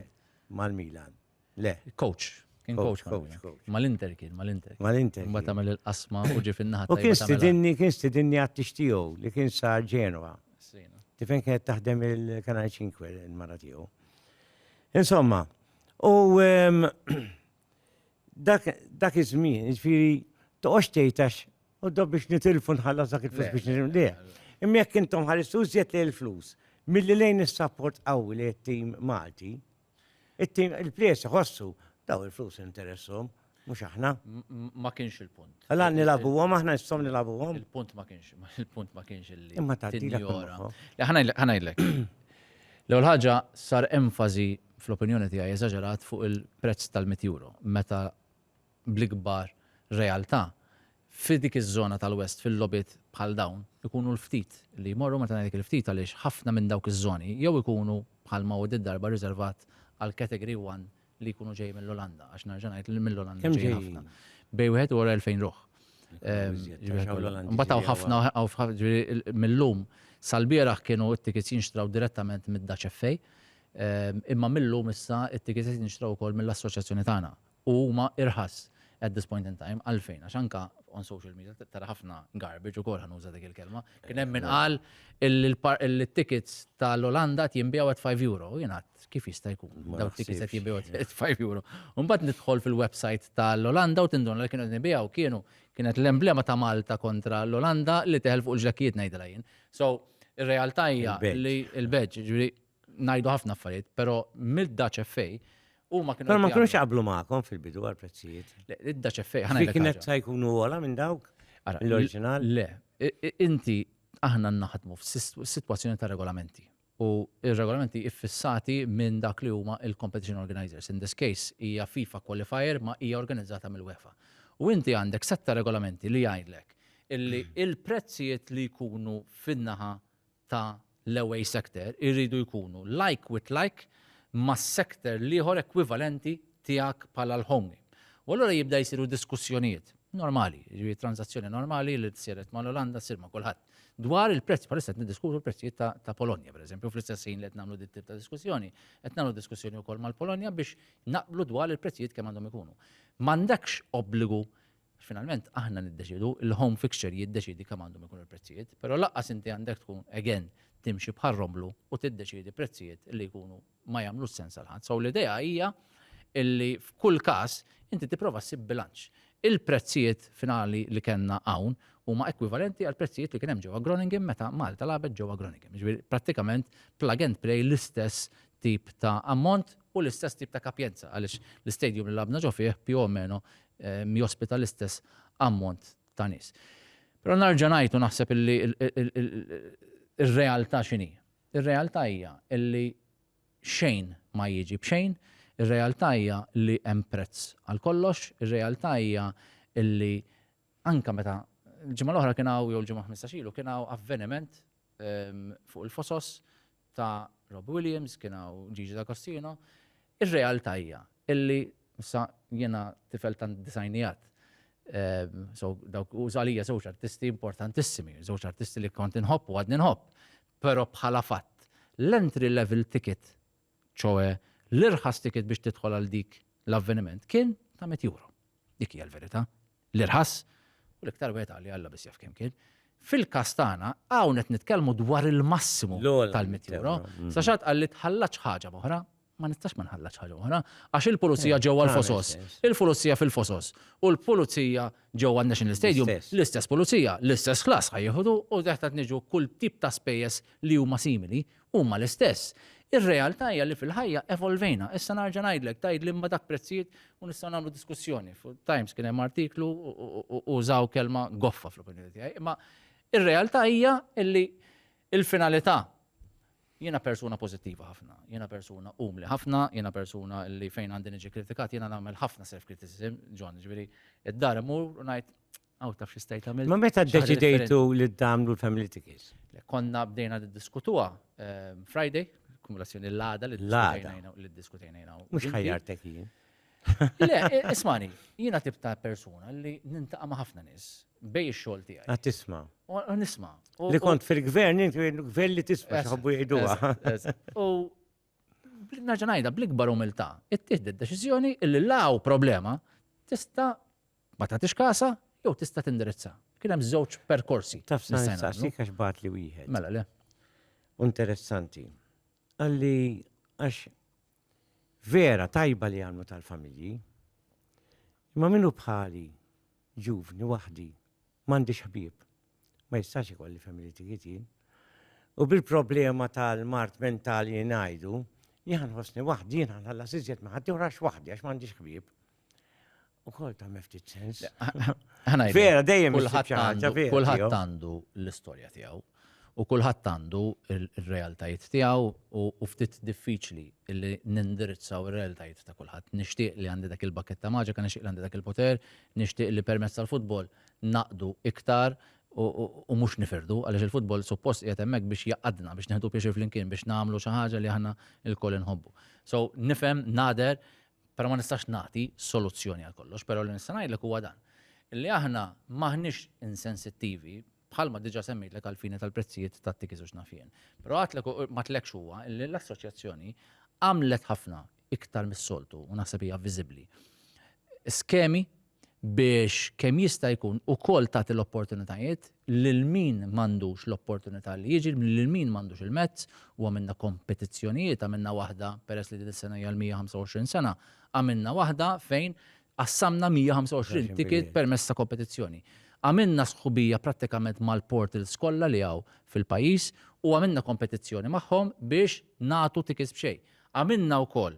mal-Milan. Le. Coach. Kien coach. Mal-Inter kien, mal-Inter. Mal-Inter. Ma tagħmel il-qasma u ġi fin-naħa. U kien stidinni, kien stidinni għattix tiegħu li kien sa Ġenwa. Tifen kienet taħdem il-Kanal 5 il-mara tiegħu. Insomma, u ehm, dak iż-żmien, ġifieri toqgħodx tgħidx u dob biex nitilfu nħallas dak il-flus biex nitilfu. Le. Imma jekk intom ħaristu żjed li l-flus, milli lejn is-sapport qawwi li t-tim Malti, Il-plejers iħossu daw il-flus interessom, mhux aħna. Ma kienx il-punt. Għala nilabuhom aħna nissom nilabuhom. Il-punt ma kienx, il-punt ma kienx illi. Imma ta' tinjora. Ħanajlek. L-ewwel ħaġa sar enfasi fl-opinjoni tiegħi eżaġerat fuq il-prezz tal-100 euro meta bl-ikbar realtà Fi dik iż-żona tal-West fil-logħbiet bħal dawn ikunu l-ftit li jmorru, meta ngħidlek il-ftit għaliex ħafna minn dawk iż-żoni jew ikunu bħal ma hu did-darba riservat għal Category One li jkunu ġej mill-Olanda, għax nerġa' ngħid li mill-Olanda ġejjin ħafna. Bejn wieħed u wara 2,000 ruħ. Imbagħad hawn ħafna mill-lum sal-bieraħ kienu t-tickets jinxtraw direttament mid-Dutch FA, imma mill-lum issa t-tickets qed jinxtraw ukoll mill-assoċjazzjoni tagħna. u huma irħas at this point in time għalfejn għax anka on social media tara ħafna garbage ukoll ħan uża dik il-kelma. Kien hemm min qal il-tickets tal-Olanda jinbiegħu at 5 euro, jingħad kif jista' jkun dawn tickets qed jinbiegħu at 5 euro. Mbagħad nidħol fil-website tal-Olanda u tindun li kienu nibigħu kienu kienet l-emblema ta' Malta kontra l-Olanda li teħel fuq il-ġlakkijiet ngħidilha jien. So, ir-realtà hija li l-beġġ, ġifieri ngħidu ħafna affarijiet, però mill-Dutch FA huma kienu. Però ma kienux jaqblu magħkom fil-bidu għal prezzijiet. Id-Dutch FA ħana. Kienet sa jkunu għola minn dawk l-oriġinal? Le, inti aħna naħdmu f'sitwazzjoni ta' regolamenti. U il-regolamenti iffissati minn dak li huma il-competition organizers. In this case, hija FIFA qualifier ma hija organizzata mill-UEFA. U inti għandek setta regolamenti li jgħidlek illi il-prezzijiet li jkunu fin-naħa ta' l-away sector iridu jkunu like with like ma' sector l-ieħor ekwivalenti tiegħek bħala l-home game. U allura jibda jsiru diskussjonijiet normali, jiġifieri transazzjoni normali li siret ma' l-Olanda ssir ma' kulħadd. Dwar il-prezz, bħalissa qed niddiskutu l-prezzijiet ta' ta' Polonja pereżempju, fl-istess ħin li qed nagħmlu dit-tip ta' diskussjoni, qed nagħmlu diskussjoni wkoll mal-Polonja biex naqblu dwar il-prezzijiet kemm għandhom ikunu. M'għandekx obbligu Għax finalment aħna niddeċiedu, il-home fixture jiddeċiedi kemm għandhom ikunu l-prezzijiet, però lanqas inti għandek tkun again timxi bħal romblu u tiddeċiedi prezzijiet li jkunu ma jagħmlux sens għal ħadd. So l-idea hija illi f'kull każ inti tipprova ssib bilanċ. Il-prezzijiet finali li kellna hawn huma ekwivalenti għal prezzijiet li kien hemm ġewwa Groningen meta Malta labet ġewwa Groningen. Ġifieri prattikament plug and play l-istess tip ta' ammont u l-istess tip ta' kapjenza għaliex l-istadium li labna ġo fih più o meno jospita l-istess ammont ta' nies. Però narġa' ngħid u naħseb illi ir-realtà x'inhi. Ir-realtà hija illi xejn ma jiġi b'xejn, ir-realtà hija li hemm prezz għal kollox, ir-realtà hija illi anke meta l-ġimgħa l-oħra kien hawn jew l-ġimgħa 15 ilu kien hawn avveniment ehm, fuq il-fosos ta' Rob Williams, kien hawn Gigi D'Agostino, ir-realtà hija illi sa jiena tifel ta' disajnijat. Ehm, so dawk u żalija żewġ artisti importantissimi, żewġ artisti li kont inħobb u għadni nħobb, però bħala fatt l-entry level ticket, ċoe l-irħas ticket biex tidħol għal dik l-avveniment kien ta' 100 euro. Dik hija l-verità. l-irħas, u l-iktar wieħed għalli Alla biss jaf kemm kien. Fil-każ tagħna hawn qed nitkellmu dwar il-massimu tal-100 euro. Mm. Sa xatt qalli tħallax ħaġa oħra, ma nistax ma nħallax ħaġa oħra, għax il-pulizija eh, ġewwa l-fosos, il-pulizija fil-fosos, u l-pulizija ġewwa n-National Stadium, l-istess pulizija, l-istess ħlas ħajjuħdu u teħtat niġu kull tip ta' spejjeż li huma simili Huma l-istess. Ir-realtà hija li fil-ħajja evolvejna. Issa narġa' ngħidlek, tgħidli imma dak prezzijiet u nistgħu nagħmlu diskussjoni. Fuq Times kien hemm artiklu u użaw kelma goffa fl-opinjoni tiegħi. Imma ir-realtà hija li l-finalità jiena persuna pożittiva ħafna, jiena persuna umli ħafna, jiena persuna li fejn għandi niġi kritikat jiena nagħmel ħafna self-criticism, John, ġifieri id-dar imur u ngħid Għaw taf xi stajt għamil. Ma meta ddeċidejtu li d-damlu l-family tickets? Konna bdejna diskutuha ehm, Friday, kumulazzjoni l-għada li diskutejna jina. Mux ħajjartek jien. Le, e, ismani, jina tip ta' persona li nintaqa ma' ħafna nis bej xol tijaj. Għat tisma. Nisma. Li kont fil-gvern, gvern li tisma, xħabbu jgħidu. U naġanajda bl-ikbar umilta, it-tihdi d-deċizjoni illi law problema tista ma tagħtix kasha jew tista' tindirizza. Kien hemm żewġ perkorsi. Taf sa nistaqsik għax bat li wieħed. Mela le. Interessanti. Għalli għax vera tajba li għamlu tal-familji, imma minnu bħali ġuvni waħdi m'għandix ħbieb, ma jistax ikolli familji tijieti. U bil-problema tal-mart mentali ngħidu, jħan ħosni waħdi, jħan ħalla siżjet maħati u rax waħdi għax m'għandix ħbieb. U kol ta' meftit sens. Vera, dejjem kulħadd għandu l-istorja tiegħu u kulħadd għandu il-realtajiet tiegħu u ftit diffiċli li nindirizzaw ir-realtajiet ta' kulħadd. Nixtieq li għandi dak il-bakket ta' maġika, nixtieq li għandi dak il-poter, nixtieq li permezz tal-futbol naqdu iktar u mhux nifirdu għaliex il-futbol suppost qiegħed hemmhekk biex jaqadna biex neħdu pjaċir flimkien biex nagħmlu xi ħaġa li aħna lkoll inħobbu. So nifhem nader Però ma nistax nagħti soluzzjoni għal kollox, però li nista' ngħidlek huwa dan. Li aħna m'aħniex insensittivi bħalma diġà semmejtlek għall-fini tal-prezzijiet tat-tickets u x'naf jien. Però għadtlek u m'għadtlekx huwa li l-assoċjazzjoni għamlet ħafna iktar mis-soltu u naħseb hija viżibbli. Skemi biex kemm jista' jkun ukoll tagħti l-opportunitajiet lil min m'għandux l-opportunità li jiġi, lil min m'għandux il-mezz, u għamilna kompetizzjonijiet, għamilna waħda, peress li din is-sena hija l-125 sena, għamilna waħda fejn qassamna 125 ticket permezz ta' kompetizzjoni. Għamilna sħubija prattikament mal-portals kollha li hawn fil-pajjiż u għamilna kompetizzjoni magħhom biex nagħtu tickets b'xejn. Għamilna wkoll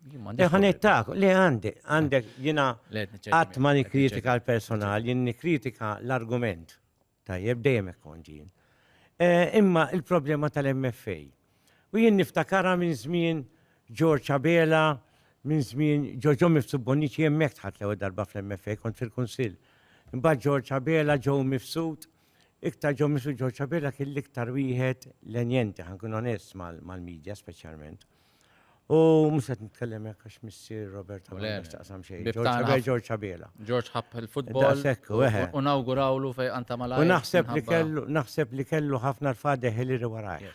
Iħanittak, li għandi, għandek jina għat ma nikritika l-personal, jien nikritika l-argument. Tajjeb, dejjem konġin. Eh, imma il-problema tal-MFA. U jien niftakara minn żmien George Abela, minn żmien Ġoġo Mifsu Bonici hemmhekk tħadd l darba fl-MFA kont fil-Kunsill. Imbagħad George Abela ġew mifsud, iktar ġew mifsud George Abela kien l-iktar wieħed lenjenti ħankun onest mal-medja speċjalment. U mhux qed nitkellem hekk għax missier Robert Abela x'taqsam xejn. George Abela. George ħabb il-futbol. U nawgurawlu fej anta malaj. U naħseb li kellu naħseb li kellu ħafna l-fadeħ li riwaraj.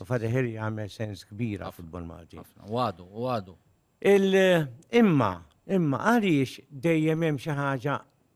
U fadeħ li jagħmel sens kbira futbol Malti. Wadu, wadu. Imma, imma għaliex dejjem hemm xi ħaġa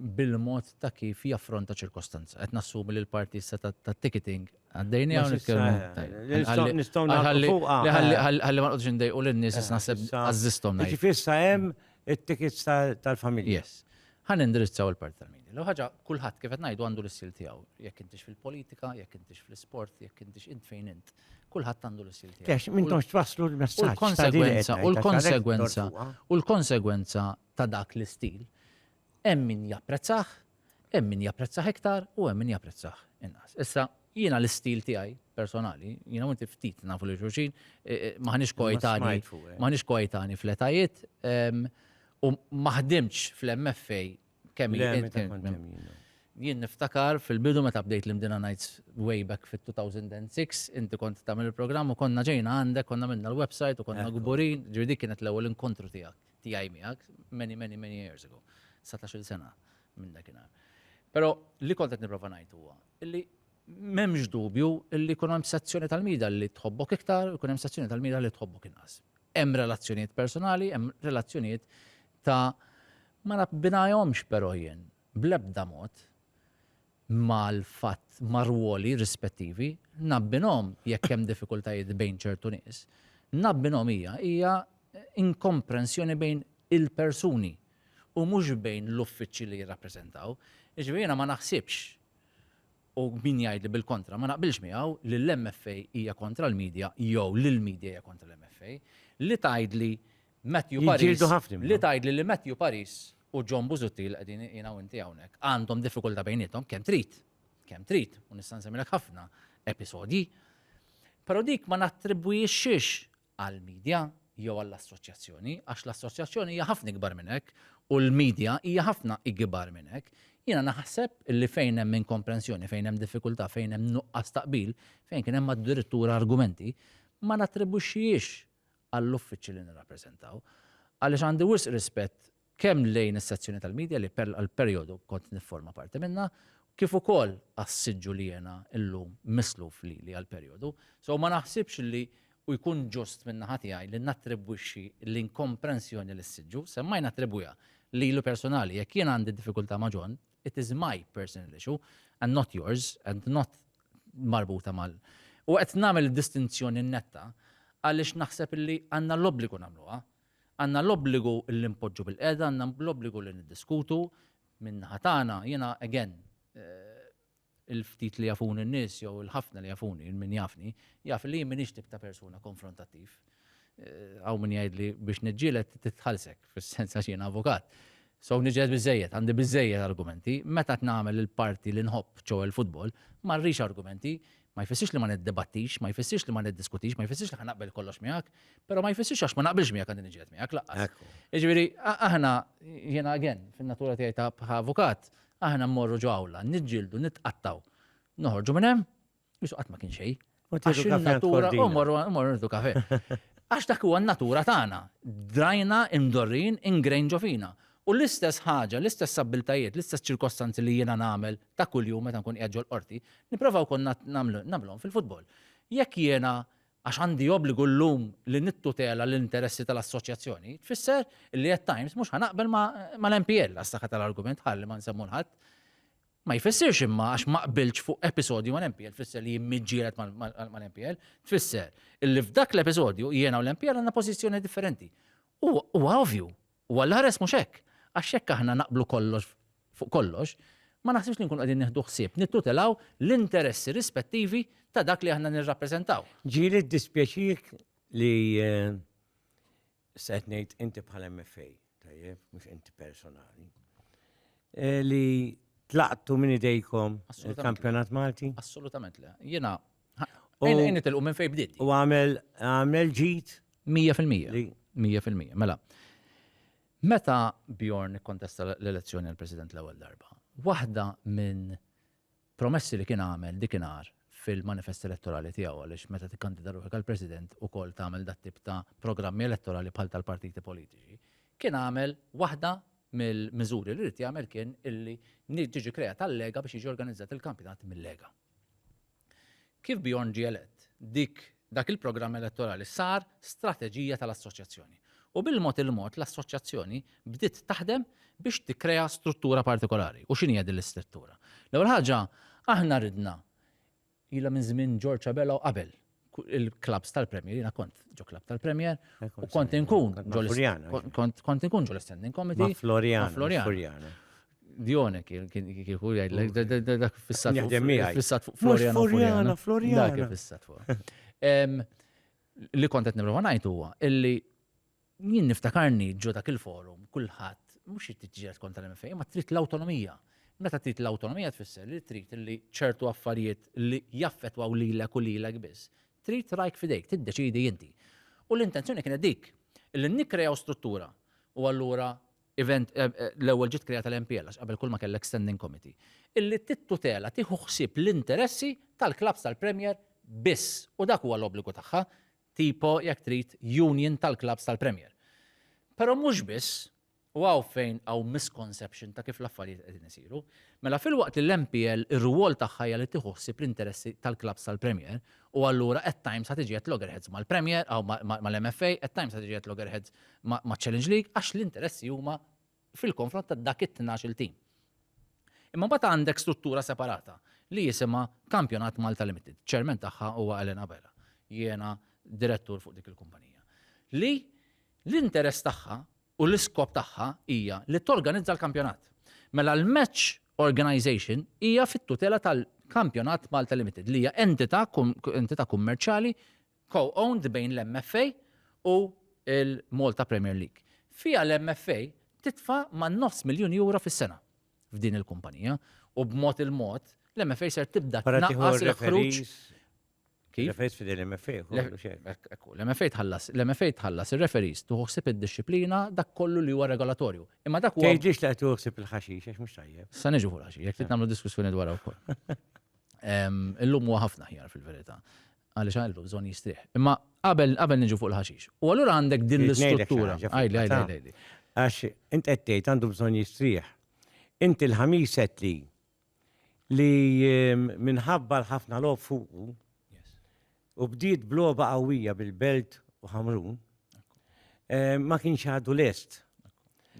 bil-mod ta' kif jaffronta ċirkostanza. Qed nassumi li l-parti issa tat-ticketing għaddejniha u nitkellmu. Nistgħu nagħmlu fuqha. Ħalli ma nqgħodx indejqu lin-nies issa naħseb għażżisthom. Jiġifieri issa hemm it-tickets tal-familja. Yes. Ħa nindirizzaw il-parti tal-media. L-ewwel ħaġa kulħadd kif qed ngħidu għandu l-istil tiegħu. Jekk intix fil-politika, jekk intix fl-isport, jekk intix int fejn int. Kulħadd għandu l-istil tiegħu. Kex, m'intomx twasslu l-messaġġ. U l-konsegwenza, u l-konsegwenza, u l-konsegwenza ta' dak l-istil. Hemm min japprezzah, hemm min japprezzah iktar u hemm min japprezzah inqas. Issa, jiena l-istil tiegħi personali, jiena u inti ftit nafu lil xulxin, m'aħniex koetanji, m'aħniex koetanji fl-etajiet, u ma ħdimtx fl-MFA kemm il. Jien niftakar fil-bidu meta bdejt l-Imdina Nights way back fit-2006, inti kont tagħmel il-programm u konna ġejna għandek, konna għamilna l-website u konna kburin, ġifieri dik kienet l-ewwel inkontru tiegħek. tiegħi miegħek many many many years ago, satax-il sena minn dakinhar. Però li kont qed nipprova ngħid huwa illi m'hemmx dubju illi jkun hemm sezzjoni tal-mida li tħobbok iktar, jkun hemm sezzjoni tal-mida li tħobbok inqas. Hemm relazzjonijiet personali, hemm relazzjonijiet ta' ma nabbinahomx però jien bl-ebda mod mal-fatt mar-rwoli rispettivi, nabbinhom jekk hemm diffikultajiet bejn ċertu nies. Nabbinhom hija hija inkomprensjoni bejn il-persuni u mhux bejn l-uffiċċji li jirrappreżentaw. Jiġifieri jiena ma naħsibx u min jgħidli bil-kontra ma naqbilx miegħu li l-MFA hija kontra l-media jew li l-media hija kontra l-MFA. Li tgħidli Matthew Paris, li tgħidli li Matthew Paris u John Busuttil qegħdin jiena u inti hawnhekk, għandhom diffikultà bejniethom kemm trid, kemm trid, u nista' nsemmilek ħafna episodji. Però dik ma nattribwixxix għall-medja jew għall-assoċjazzjoni, għax l-assoċjazzjoni hija ħafna ikbar minn hekk u l-medja hija ħafna ikbar minn hekk. Jiena naħseb li fejn hemm inkomprensjoni, fejn hemm diffikultà, fejn hemm nuqqas taqbil, fejn kien hemm addirittura argumenti, ma nattribwixxix għall-uffiċċji li nirrappreżentaw, għaliex għandi wisq rispett kemm lejn is-sezzjoni tal-media li għall-perjodu kont nifforma parti minnha, kif ukoll għas-siġġu li jiena llum misluf lili għall-perjodu. So ma naħsibx li u jkun ġust minn naħa tiegħi li nattribwixxi l-inkomprensjoni lis-siġġu, semmajna attribwiha lilu personali, jekk jien għandi diffikultà ma' John, It is my personal issue and not yours and not marbuta mal. U qed nagħmel distinzjoni netta għaliex naħseb illi għandna l-obbligu nagħmluha. Għandna l-obbligu li npoġġu bil-qeda, għandna l-obbligu li niddiskutu minn ħatana, jiena again, eh, Il-ftit li jafuni n-nies, jew il-ħafna li jafuni, min jafni, jaf li jien m'iniex tip ta' persuna konfrontattiv. Hawn min jgħidli biex niġġieled titħallsek, fis-sens għax jiena avukat. So niġġieled biżżejjed, għandi biżżejjed argumenti, meta qed nagħmel il-parti li nħobb, ċoe l-futbol, ma rridx argumenti, ma jfissirx li ma niddibattix, ma jfissirx li ma niddiskutix, ma jfissirx li ħa naqbel kollox miegħek, però ma jfissirx għax ma naqbilx miegħek għandi niġġieled miegħek laqqas. Jiġifieri aħna jiena again fin-natura tiegħi ta' avukat, Aħna mmorru ġo awla, niġġieldu, nitqattaw. Noħorġu minn hemm, jisu qatt ma kien xejn. Għax natura u morru nħdu kafe. Għax dak huwa natura tagħna. Drajna imdorrin ingrejn ġo fina. U l-istess ħaġa, l-istess abbiltajiet, l-istess ċirkostanzi li jiena nagħmel ta' kuljum meta nkun qiegħed ġol qorti, nipprova wkoll nagħmlhom fil-futbol. Jekk jiena għax għandi obbligu llum li nittutela l-interessi tal-assoċjazzjoni, tfisser li at times mhux ħanaqbel mal-MPL għas-saħħa tal-argument ħalli ma nsemmu l-ħadd. Ma jfissirx imma għax ma qbilx fuq episodju mal-MPL tfisser li jimmiġġielet mal-MPL, tfisser illi f'dak l-episodju jiena u l-MPL għandna pożizzjoni differenti. Huwa ovvju U għall-aħres mhux hekk, għax jekk aħna naqblu kollox fuq kollox, ma naħsibx li nkunu qegħdin nieħdu ħsieb nittutelaw l-interessi rispettivi ta' dak li aħna nirrappreżentaw. Ġieli jiddispjaċik li se qed ngħid inti bħala MFA, tajjeb, mhux inti personali, eh, li tlaqtu minn idejkom il-kampjonat Malti? Assolutament le. Jiena Ejna nitilqu minn fejn bdiet. U għamel għamel ġid. 100%. 100%. Mela. Meta Bjorn ikkontesta l-elezzjoni għal President l-ewwel darba, waħda minn promessi li kien għamel dikinhar fil-manifest elettorali tiegħu għaliex meta tikkandida ruħek għal President ukoll tagħmel dat tip ta' programmi elettorali bħal tal-partiti politiċi, kien għamel waħda mill-miżuri li rrid jagħmel kien illi tiġi kreat tal-lega biex jiġi organizzat il-kampjonat mill-lega. Kif Bjorn ġie elett, dik dak il-programm elettorali sar strateġija tal-Assoċjazzjoni. U bil-mod il-mod l-Assoċjazzjoni bdiet taħdem biex tikkrea struttura partikolari. U x'inhi hija din l-istrittura? L-ewwel ħaġa, aħna ridna, ilha minn żmien George Abela u qabel, il-klabs tal-Premier, jina kont ġo klab tal-Premier, u kont inkun ġo kont inkun ġo l-standing committee. Florian, Florian. Dione kien kieku jgħid, dak fissat fuq Florian. Florian, Florian. Dak fissat fuq. Li kont qed nibru ngħid huwa illi Jien niftakarni ġo dak il-forum, kulħadd mhux irid tiġġieled kontra l-MFA, ma trid l-awtonomija. Meta trid l-awtonomija tfisser li trid li ċertu affarijiet li jaffetwaw lilek u lilek biss, trid rajk fidejk, tiddeċidi inti. U l-intenzjoni kienet dik, li nikkrejaw struttura u allura event eh, eh, l-ewwel ġiet krejata l-MPL għax qabel kull ma kellek standing committee. Illi tittutela tieħu ħsieb l-interessi tal-klabs tal-Premier biss u dak huwa l-obbligu tagħha tipo, jekk trid, union tal-klabbs tal-Premier. Però mhux biss, u hawn fejn hawn misconception ta' kif l-affarijiet qegħdin isiru, mela filwaqt li l-MPL ir-rwol tagħha hija li tieħu ħsieb l-interessi tal-klabbs tal-Premier, u allura at times ħa tiġi at loggerheads mal-Premier, mal-MFA, at times ħa tiġi at loggerheads maċ-Challenge League, għax l-interessi huma fil-konfront ta' dak it-tnax-il tim. Imma mbagħad għandek struttura separata li jisimha Kampjonat Malta Limited. Chairman tagħha huwa Alan Abela. Jiena direttur fuq dik il-kumpanija. Li l-interess tagħha u l-iskop tagħha hija li torganizza l-kampjonat. Mela l-match organization hija fit-tutela tal-Kampjonat Malta Limited li hija entità kummerċjali co-owned bejn l-MFA u l-Malta Premier League. Fiha l-MFA titfa' man-nofs miljun euro fis-sena f'din il-kumpanija u b'mod il-mod l-MFA ser tibda tnaqqas il-ħruġ. Kif? Referees f'din l-MFA, kollu xejn. Ekku, l-MFA tħallas, l-MFA tħallas ir-referees tuħu ħsieb id-dixxiplina dak kollu li huwa regolatorju. Imma dak huwa. Tgħidlix ta' tuħu ħsieb il-ħaxix għax mhux tajjeb. Sa niġu fuq l-ħaxix, jekk trid nagħmlu diskussjoni dwar wkoll. Illum huwa ħafna ħjar fil-verità. Għaliex għallu bżonn jistrieħ. Imma qabel qabel niġu fuq il-ħaxix. U allura għandek din l-istruttura. Għajli, għajli, għajli. Għax int qed tgħid għandu bżonn jistrieħ. Inti l-ħamis qed li li ehm, minħabba l-ħafna lob fuqu u bdiet bloba qawwija bil-Belt u Ħamrun, eh, ma kienx għadu lest.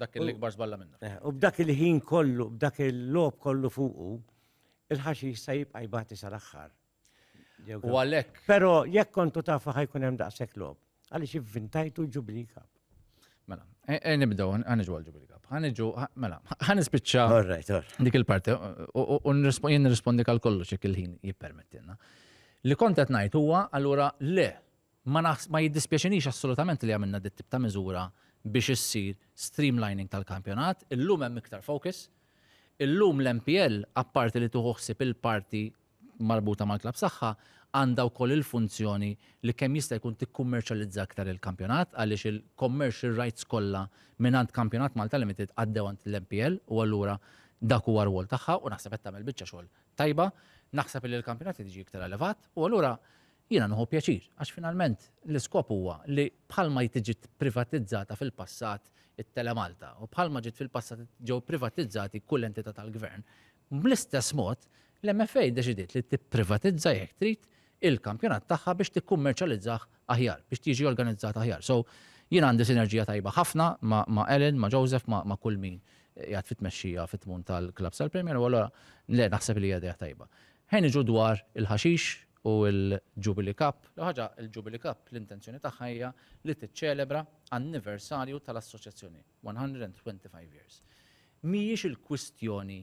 Dak il-ikbar żballa minna. Eh, u b'dak il-ħin kollu, b'dak il-lob kollu fuqu, il-ħaxi jista' jibqa' jbati sal-aħħar. U għalhekk. Però jekk kontu tafu ħajkun hemm daqshekk lob. Għaliex ivvintajtu l-Jubilee Cup. Mela, e, e, nibdew, ħaniġu għal-ġubili kap. Ħaniġu, mela, ħanispiċċa dik il-parti u jien nirrispondi għal kollox jekk il-ħin jippermettilna. Li kont qed ngħid huwa allura le ma jiddispjaċinix assolutament li għamilna dit tip ta' miżura biex issir streamlining tal-kampjonat, illum hemm iktar focus, illum l-MPL apparti li tuħuħsib il-parti marbuta mal-klabb tagħha għandha wkoll il-funzjoni li kemm jista' jkun tikkummerċjalizza aktar il-kampjonat għaliex il-commercial rights kollha mingħand Kampjonat Malta Limited għaddew għand l-MPL u allura dak huwa r-rwol tagħha u naħseb qed tagħmel biċċa xogħol tajba. Naħseb illi l-kampjonat irid jiġi iktar elevat u allura jiena nieħu pjaċir għax finalment l-iskop huwa li bħalma ġiet privatizzata fil-passat it-Telemalta u bħalma ġiet fil-passat ġew privatizzati kull entità tal-Gvern, Bl-istess mod, l-MFA ddeċidiet li tipprivatizza, jekk trid, il-kampjonat tagħha biex tikkummerċjalizzah aħjar, biex jiġi organizzat aħjar. So, jien għandi sinerġija tajba ħafna ma' Ellen, ma' Joseph, ma' kull min qiegħed fit-tmexxija fit-tmun tal-klabbs tal-Premier u allura le naħseb li hija idea tajba. Ħa niġu dwar il-ħaxix u l-Jubilee Cup. L-ewwel ħaġa, il-Jubilee Cup l-intenzjoni tagħha hija li tiċċelebra anniversarju tal-assoċjazzjoni. 125 years. Mhijiex il-kwistjoni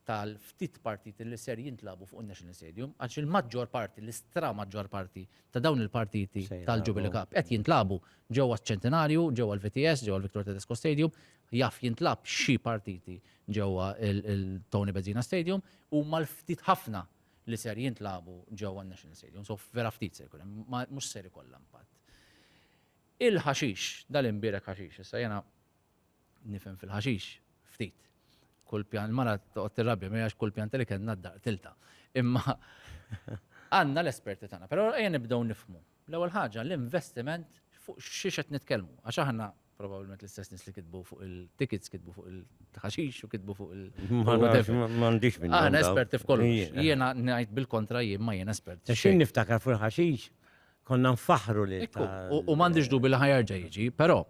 tal-ftit partiti li ser jintlagħbu fuq in-National Stadium, għaliex il-maġġor parti, l-istramaġġor parti ta' dawn il-partiti tal-Jubilee Cup qed jintlagħbu ġewwa ċ-Ċentinarju, ġewwa l-VTS, ġewwa l-Victor Tedesco Stadium, jaf jintlagħab xi partiti ġewwa l-Tony Bezzina Stadium, huma l-ftit ħafna li ser jintlagħbu ġewwa n-National Stadium, so vera ftit se jkun hemm, mhux ser ikollha impatt. Il-ħaxix, dal-imbierek ħaxix. Issa jiena nifhem fil-ħaxix ftit. Kull pjan, il-mara toqgħod tirrabja miegħi għax kull pjanta li kellna d-dar tilta. Imma għandna l-esperti tagħna, però ejja nibdew nifhmu. L-ewwel ħaġa l-investiment fuq xiex qed nitkellmu, għax aħna probabbilment l-istess nies li kitbu fuq il-tickets, kitbu fuq il-ħaxix u kitbu fuq il- Ma nafx, ma ma għandix minn Aħna esperti f'kollox. Jiena ngħid bil-kontra jien ma jien esperti. Xejn niftakar fuq il-ħaxix, konna nfaħħru lil Ekku, u, u m'għandix dubi li ħajarġa jiġi, però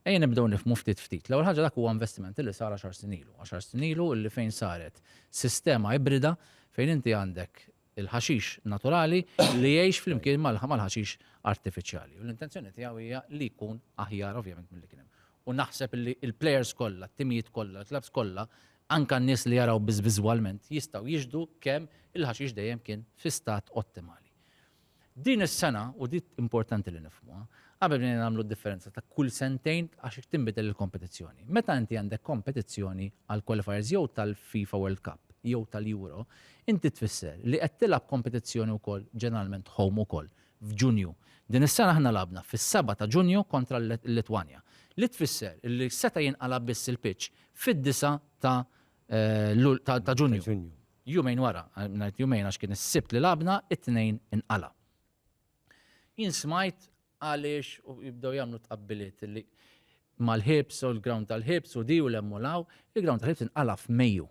ejja nibdew nifmu ftit ftit. L-ewwel ħaġa dak huwa investimenti li sar għaxar sinilu. Għaxar sinilu li fejn saret sistema ibrida fejn inti għandek il-ħaxix naturali li jgħix flimkien mal-ħaxix artifiċjali. U l-intenzjoni tiegħu hija li jkun aħjar ovvjament mill-li kien hemm. U naħseb li il-players kollha, t-timijiet kollha, l-klabs kollha, anka n-nies li jaraw biss viżwalment jistgħu jiġdu kemm il-ħaxix dejjem kien fi stat ottimali. Din is-sena, u di importanti li nifhmuha, qabel bdejna nagħmlu d-differenza ta' kull sentejn għax irid tinbidel il-kompetizzjoni. Meta inti għandek kompetizzjoni għall-qualifiers jew tal-FIFA World Cup jew tal-Euro, inti tfisser li qed tilgħab kompetizzjoni wkoll ġeneralment home ukoll f'Ġunju. Din is-sena aħna lagħabna fis-seba' ta' Ġunju kontra l-Litwanja, li tfisser li seta' jinqala' biss il-pitch fid-disa' ta' ta' Ġunju. Jumejn wara, ngħid jumejn għax kien is-Sibt li lagħabna, it-Tnejn inqala'. Jien smajt għaliex u jibdew jagħmlu tqabbiliet li mal-ħibs u l-ground tal-ħibs u di u lemmu law, il-ground tal-ħibs inqala' f'Mejju.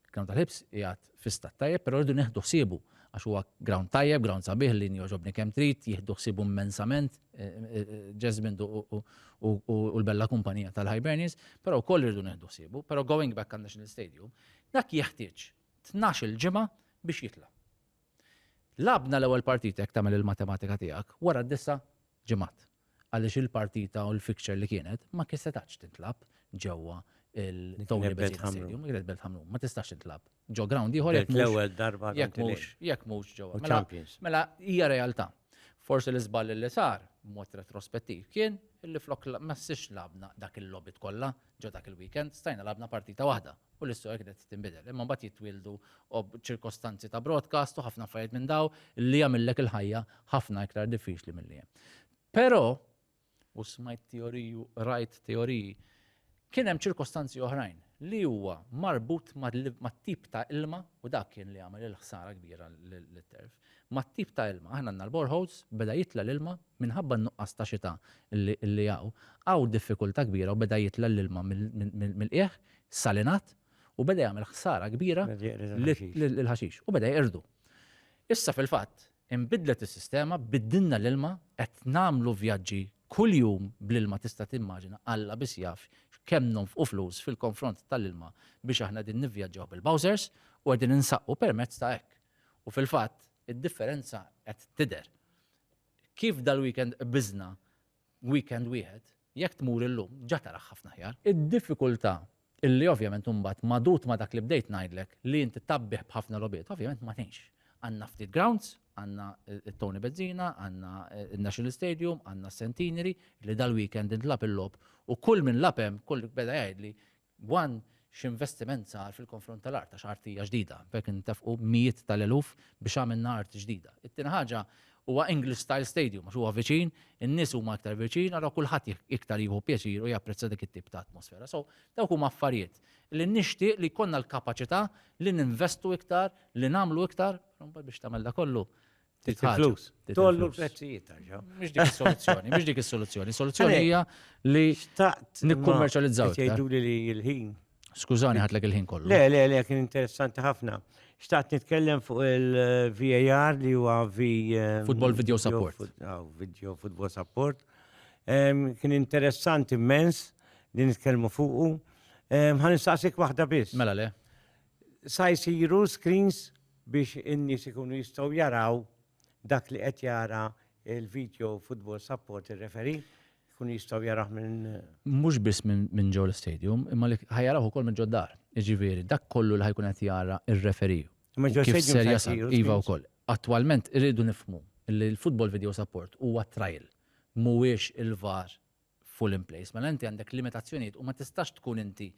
Il-ground tal-ħibs jgħat fi stat tajjeb, però rridu neħdu ħsiebu għax huwa ground tajjeb, ground sabiħ li njoġobni kemm trid, jieħdu ħsibu immensament eh, eh, eh, Jasmine u l-bella kumpanija tal-Hibernians, però wkoll irridu neħdu ħsibu, però going back għal National Stadium, Dak jeħtieġ tnax-il ġimgħa biex jitla'. Lagħbna l-ewwel partita jekk tagħmel il-matematika tiegħek wara disa' ġimgħat għaliex il-partita u l-fixture li kienet ma kien setax tintlab ġewwa il-Tony Bennett Stadium, Great Belt Hamlum, ma tistax tintlab. Ġo ground ieħor jekk l-ewwel darba jekk mhux jekk mhux ġewwa. Mela, mela hija realtà. Forsi l-iżball li sar, b'mod retrospettiv, kien illi flok ma ssirx labna dak il-lobit kollha ġo dak il-weekend, stajna labna partita waħda u l-istorja kienet tinbidel. Imma mbagħad jitwieldu ċirkostanzi ta' broadcast u ħafna affarijiet minn daw li jagħmillek il-ħajja ħafna iktar diffiċli milli hemm. Però u smajt teoriji u qrajt teoriji, kien hemm ċirkostanzi oħrajn li huwa marbut mat-tip ta' ilma u dak kien li għamel il-ħsara kbira lit-turf. Mat-tip ta' ilma, aħna għandna l-boreholes, beda jitla' l-ilma minħabba n-nuqqas ta' xita li hawn, hawn diffikultà kbira u beda jitla' l-ilma mill-qiegħ salinat u beda jagħmel ħsara kbira lill-ħaxix u beda jqirdu. Issa fil-fatt, Inbidlet is-sistema, biddilna l-ilma, qed nagħmlu vjaġġi kuljum bl-ilma tista' timmaġina, Alla biss jaf kemm nonfqu flus fil-konfront tal-ilma biex aħna qegħdin nivvjaġġaw bil-bowsers u qegħdin insaqqu permezz ta' hekk. U fil-fatt id-differenza qed tidher. Kif dal-weekend qbiżna weekend wieħed, Jekk tmur illum, ġa tarah ħafna aħjar. Id-diffikultà, illi ovvjament imbagħad magħdud ma' dak li bdejt ngħidlek, li inti tgħabbih b'ħafna logħbiet, ovvjament ma tgħinx. Għandna ftit grounds, għandna t-Tony Bezzina, għandna n-National Stadium, għandna s-Centenary, li dal-weekend intlagħab il-logħob u kull min lagħab hemm, kull beda jgħidli One, X'investiment sar fil-konfront tal-art għax art hija ġdida, b'hekk intefqu mijiet tal-eluf biex għamilna art ġdida. It-tieni ħaġa, huwa English style stadium għax huwa viċin, in-nies huma iktar viċin, allura kulħadd iktar jieħu pjaċir u japprezza dik it-tip ta' atmosfera. So, dawk huma affarijiet li nixtieq li jkollna l-kapaċità li ninvestu iktar, li nagħmlu iktar, però mbagħad biex tagħmel dak kollu Il-flus. Tollu l-prezzijiet tarġaw. Mhux dik is-soluzzjoni, mhux dik is-soluzzjoni. Soluzzjoni hija li nikkummerċjalizzaw. Tgħidu li l-ħin. Skużani ħatlek il-ħin kollu. Le, le, le, kien interessanti ħafna. Xtaqt nitkellem fuq il-VAR li huwa V. Eh, football Video Support. Ah, video Football Support. Kien interessanti immens li nitkellmu fuqu. Ħan nistaqsik waħda biss. Mela le. Sa jsiru screens biex in-nies ikunu jistgħu jaraw dak li qed jara l-video football support ir-referi, jkunu jistgħu jarawh minn. Mhux biss minn ġew l-istadium, imma li ħa jarawh ukoll minn ġod-dar. Jiġifieri dak kollu li ħa jkun qed jara r-referi. Imma ġol-stadium se jsiru screens? Iva wkoll. Attwalment irridu nifhmu li l-football video support huwa trial, mhuwiex il-VAR full in place. Mela inti għandek limitazzjonijiet u ma tistax tkun inti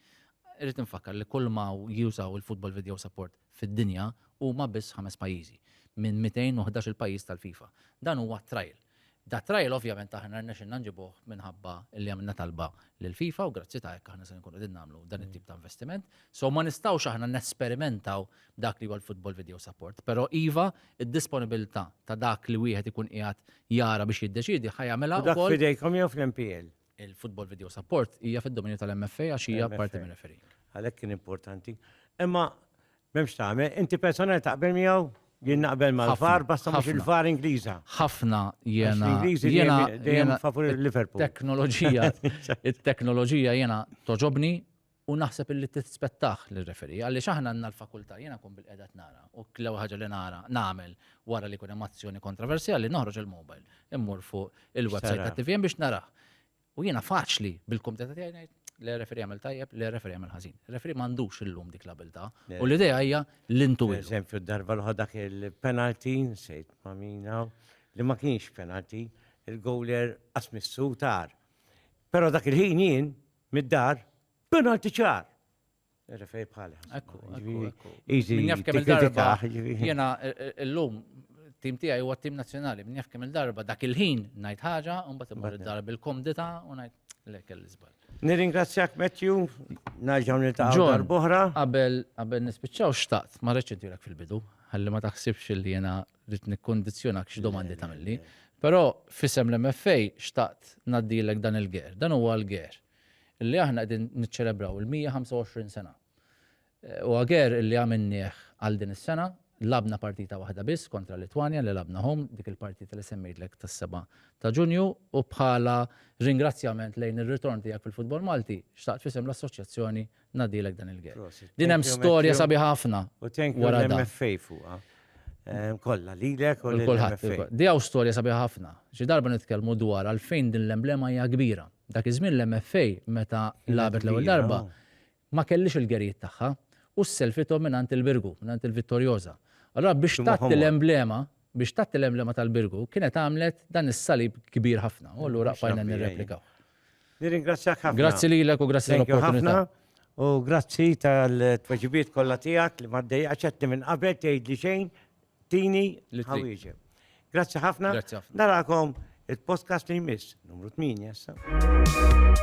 irrid infakkar li kull ma jużaw il-Football Video Support fid-dinja huma biss ħames pajjiżi minn 211 il-pajjiż tal-FIFA. Dan huwa trial. Da trial ovvjament aħna rnexxinna nġibuh minħabba li għamilna talba lil FIFA u grazzi ta' hekk aħna se nkunu qegħdin nagħmlu dan it-tip ta' investiment. So ma nistgħux aħna nesperimentaw dak li huwa l-football video support. Però iva, id-disponibilità ta' dak li wieħed ikun qiegħed jara biex jiddeċidi ħajamela Dak wkoll fidejkom jew fl-MPL. il-football video support hija fid-dominju tal-MFA għax hija MFA. parti minn referee. Għalhekk kien importanti. Imma m'hemmx tagħmel, inti personali taqbel miegħu? Jien naqbel mal-far, Ħafna, basta mhux ħafna. il-far Ingliża. Ħafna Għax jiena l-Ingliżi jiena dejjem- dejjem jiena favur il-Liverpool. teknoloġija it-teknoloġija jiena toġobni U naħseb illi tispettah lir-referee għaliex aħna għandna l-fakultà, jiena nkun bilqiegħda qed nara u l-ewwel ħaġa li nara nagħmel wara li jkun hemm azzjoni kontroversjali noħroġ il-mobile, immur fuq il-website tat-TVM biex narah. U jiena faċli bil-kumdità tiegħi ngħid, le referee għamel tajjeb, le referee għamel ħażin. Referee m'għandux illum dik l-abiltà u l-idea hija li ntuwilhom. Eżempju, darba l-oħra dak il-penalty, nsejt ma' min hawn, li ma kienx penalty, il-goaler qas missu tar. Però dak il-ħin jien mid-dar, penalti ċar. Refej bħal. Ekku, ekku. Easy. Min jaf kemm il-darba. Jena l-lum tim tiegħi huwa tim nazzjonali, min jaf kemm il-darba dak il-ħin ngħid ħaġa, u mbagħad imur id-darba bil-komdita u ngħid lek l-iżbal. Nirringrazzjak Matthew, naġġaw niltaqgħu darb'oħra. Qabel qabel nispiċċaw xtaqt, ma reċedilek fil-bidu, ħalli ma taħsibx li jena rrid nikkundizzjonak xi domandi tagħmilli, però f'isem l-MFA xtaqt ngħaddilek dan il-ger. Dan huwa l-ger li aħna qegħdin niċċelebraw il-125 sena. Huwa ger li għamilnieh għal din is-sena, lagħbna partita waħda biss kontra Litwanja li lagħbna home, dik il-partita li semmejtlek tas-seba' ta' Ġunju u bħala ringrazzjament lejn ir-ritorn tiegħek fil-futbol Malti, xtaqt f'isem l-Assoċjazzjoni Nadilek dan il-għed. Din hemm storja sabi ħafna. U thank you l-MFA fuqa. Ehm, kolla, li l u l-MFA. Di għaw storja sabi ħafna. Xi darba nitkellmu dwar għalfejn din l-emblema hija kbira. Dak iż-żmien l-MFA meta labet l-ewwel darba ma kellix il-gerijiet tagħha u s-selfitom minn il-Birgu, minn il-Vittorjoza. Allora biex tatti l-emblema, biex tatti l-emblema tal-Birgu, kienet għamlet dan is-salib kbir ħafna. U allura qfajna nirreplikaw. Nirringrazzjak ħafna. Grazzi lilek u grazzi Thank you tal-opportunità. ħafna. U grazzi tal-tweġibiet kollha tiegħek li maddej għaxetni minn qabel tgħid li xejn tini Li trid. ħawieġeb. Grazzi ħafna. Grazzi ħafna. Narakom il-podcast li jmiss, numru 8 issa.